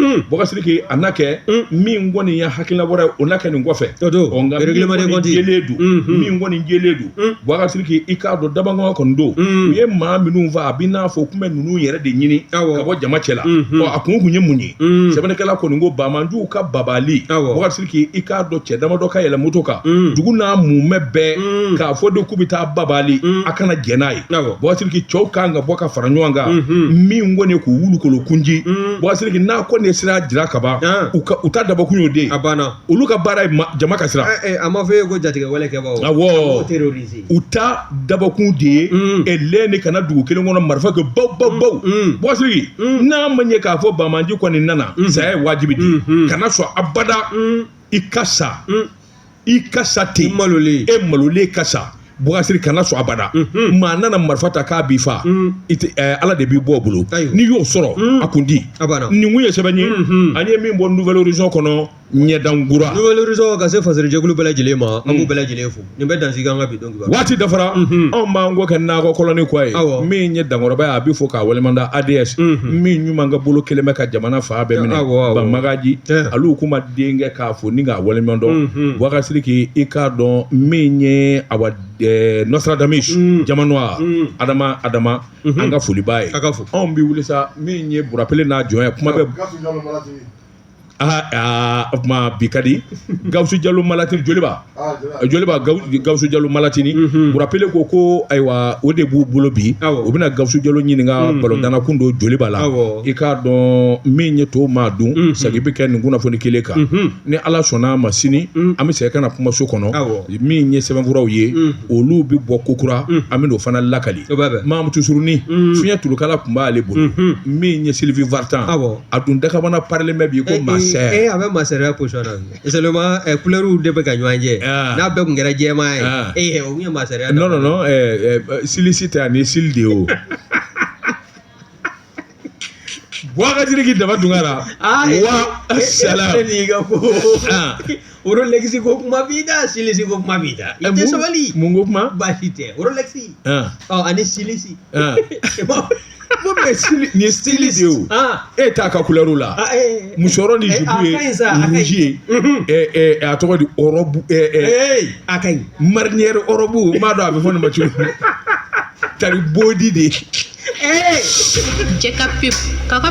a na kɛ min kɔni ye hakilina wɛrɛ ye o na kɛ nin kɔfɛ o don ɔ nka règlement de compte min kɔni jɛlen don Unhun. min kɔni jɛlen don Bɔgasiriki i k'a dɔn dabangɔn kɔni don u ye maa minnu faa a bɛ n'a fɔ k'u bɛ ninnu yɛrɛ de ɲini Awɔ. ka bɔ jama cɛ la Unhun. ɔ a kun kun ye mun ye Mm. sɛbɛnnikɛla kɔni ko banbaanciw ka babali Awɔ. Bɔgasiriki i k'a dɔn cɛ damadɔ ka yɛlɛ moto kan Mm. dugu n'a mumɛ bɛɛ Mm. k'a fɔ de k'u bɛ taa babali Mm. a kana jɛn n'a ye Awɔ. Bɔgasiriki cɛw kan ka bɔ ka fara ɲɔgɔn kan Unhun. min kɔni ye k'u wuli k'olu kun ci Bɔgasiriki n'a kɔni ye sira jira kaban u u ta dabɔkun y'o de a banna olu ka baara ye jama ka siran a ma fɔ e ko jatigɛwale kɛ u ta dabɔkun de ye e lɛn de ka na dugu kelen kɔnɔ marifa kɛ baw baw baw Bɔgasiriki n'a ma ɲɛ k'a fɔ banbaanci kɔni nana saya ye wajibi di kana sɔn abada i ka sa i ka sa ten e malolen ka sa Bɔgasiriki kana sɔn abada maa nana marifa ta k'a b'i fa ala de b'i bɔ bolo n'i y'o sɔrɔ a kun di nin kun ye sɛbɛn ye an ye min bɔ Nouvel Horizon kɔnɔ ɲɛdan kura Nouvel Horizon ka se faserijɛkulu bɛɛ lajɛlen ma an b'u bɛɛ lajɛlen fo nin bɛ dan sigi an ka bi waati dafara anw b'an kɔ kɛ nakɔkɔlɔni kɔ ye min ye dankɔrɔba ye a bɛ fɔ k'a walimada ADS min ɲuman ka bolo kelen bɛ ka jamana fan bɛɛ minɛ Banmagaji ale kuma denkɛ k'a fɔ ni k'a walimandɔn Bɔgasiriki i k'a dɔn min ye a Nostradamus jamana wa adama adama an ka foliba ye ka fɔ anw bɛ wuli sa min ye Burapele n'a jɔn ye kuma bɛ aa o tuma bi ka di Gawusu Jalo Malatini, Joliba, aa Joliba, Joliba Gawusu Jalo Malatini, unhun, Burapele ko ko ayiwa o de b'u bolo bi, awɔ, o bɛna Gawusu Jalo ɲininka balontanna kun don Joliba la, awɔ, i k'a dɔn min ye to maa dun, unhun, sagin bɛ kɛ nin kunnafoni kelen kan, unhun, ni Ala sɔnn'a ma sini, un, an bɛ segin ka na kumaso kɔnɔ, awɔ, min ye sɛbɛnfuraw ye, un, olu bɛ bɔ kokura, un, an bɛn'o fana lakali, o b'a bɛn, Mamutu Surunin, un, fiɲɛ tulukala tun b'ale bolo, unhun, min ye Sylvie Vartan, awɔ a dun dakabana parelen bɛ bi ko masaya ee a bɛ masaya position na bi seulement eh, couleurs de bɛ ka ɲɔgɔn jɛ Ah. n'a bɛɛ tun kɛra jɛman ye Ah. ee o tun ye masaya non non non ɛɛ ɛɛ silisi tɛ ani sili de ye o Bɔgasiriki Daba Tunkara Ah, eh, wa eh, eh, salam, nin y'i ka ko Ah. orolexi ko kuma b'i da silisi ko kuma b'i da i tɛ sabali mun ko kuma baasi tɛ orolexi Ah, ɔ ani silisi Ah. bon mais nin ye style de ye o Ah, e t'a ka couleur la ah, eh, musɔrɔ ni eh, jupe a ka ɲi sa, a ka ɲi. rouge ye Mhm. ɛ ɛ a tɔgɔ di ɔrɔbu ɛ ɛ eh, a ka ɲi marinière ɔrɔbu n m'a dɔn a bɛ fɔ nin ma cogo min tari bodi de Eh, Cɛ ka pewu. K'a ka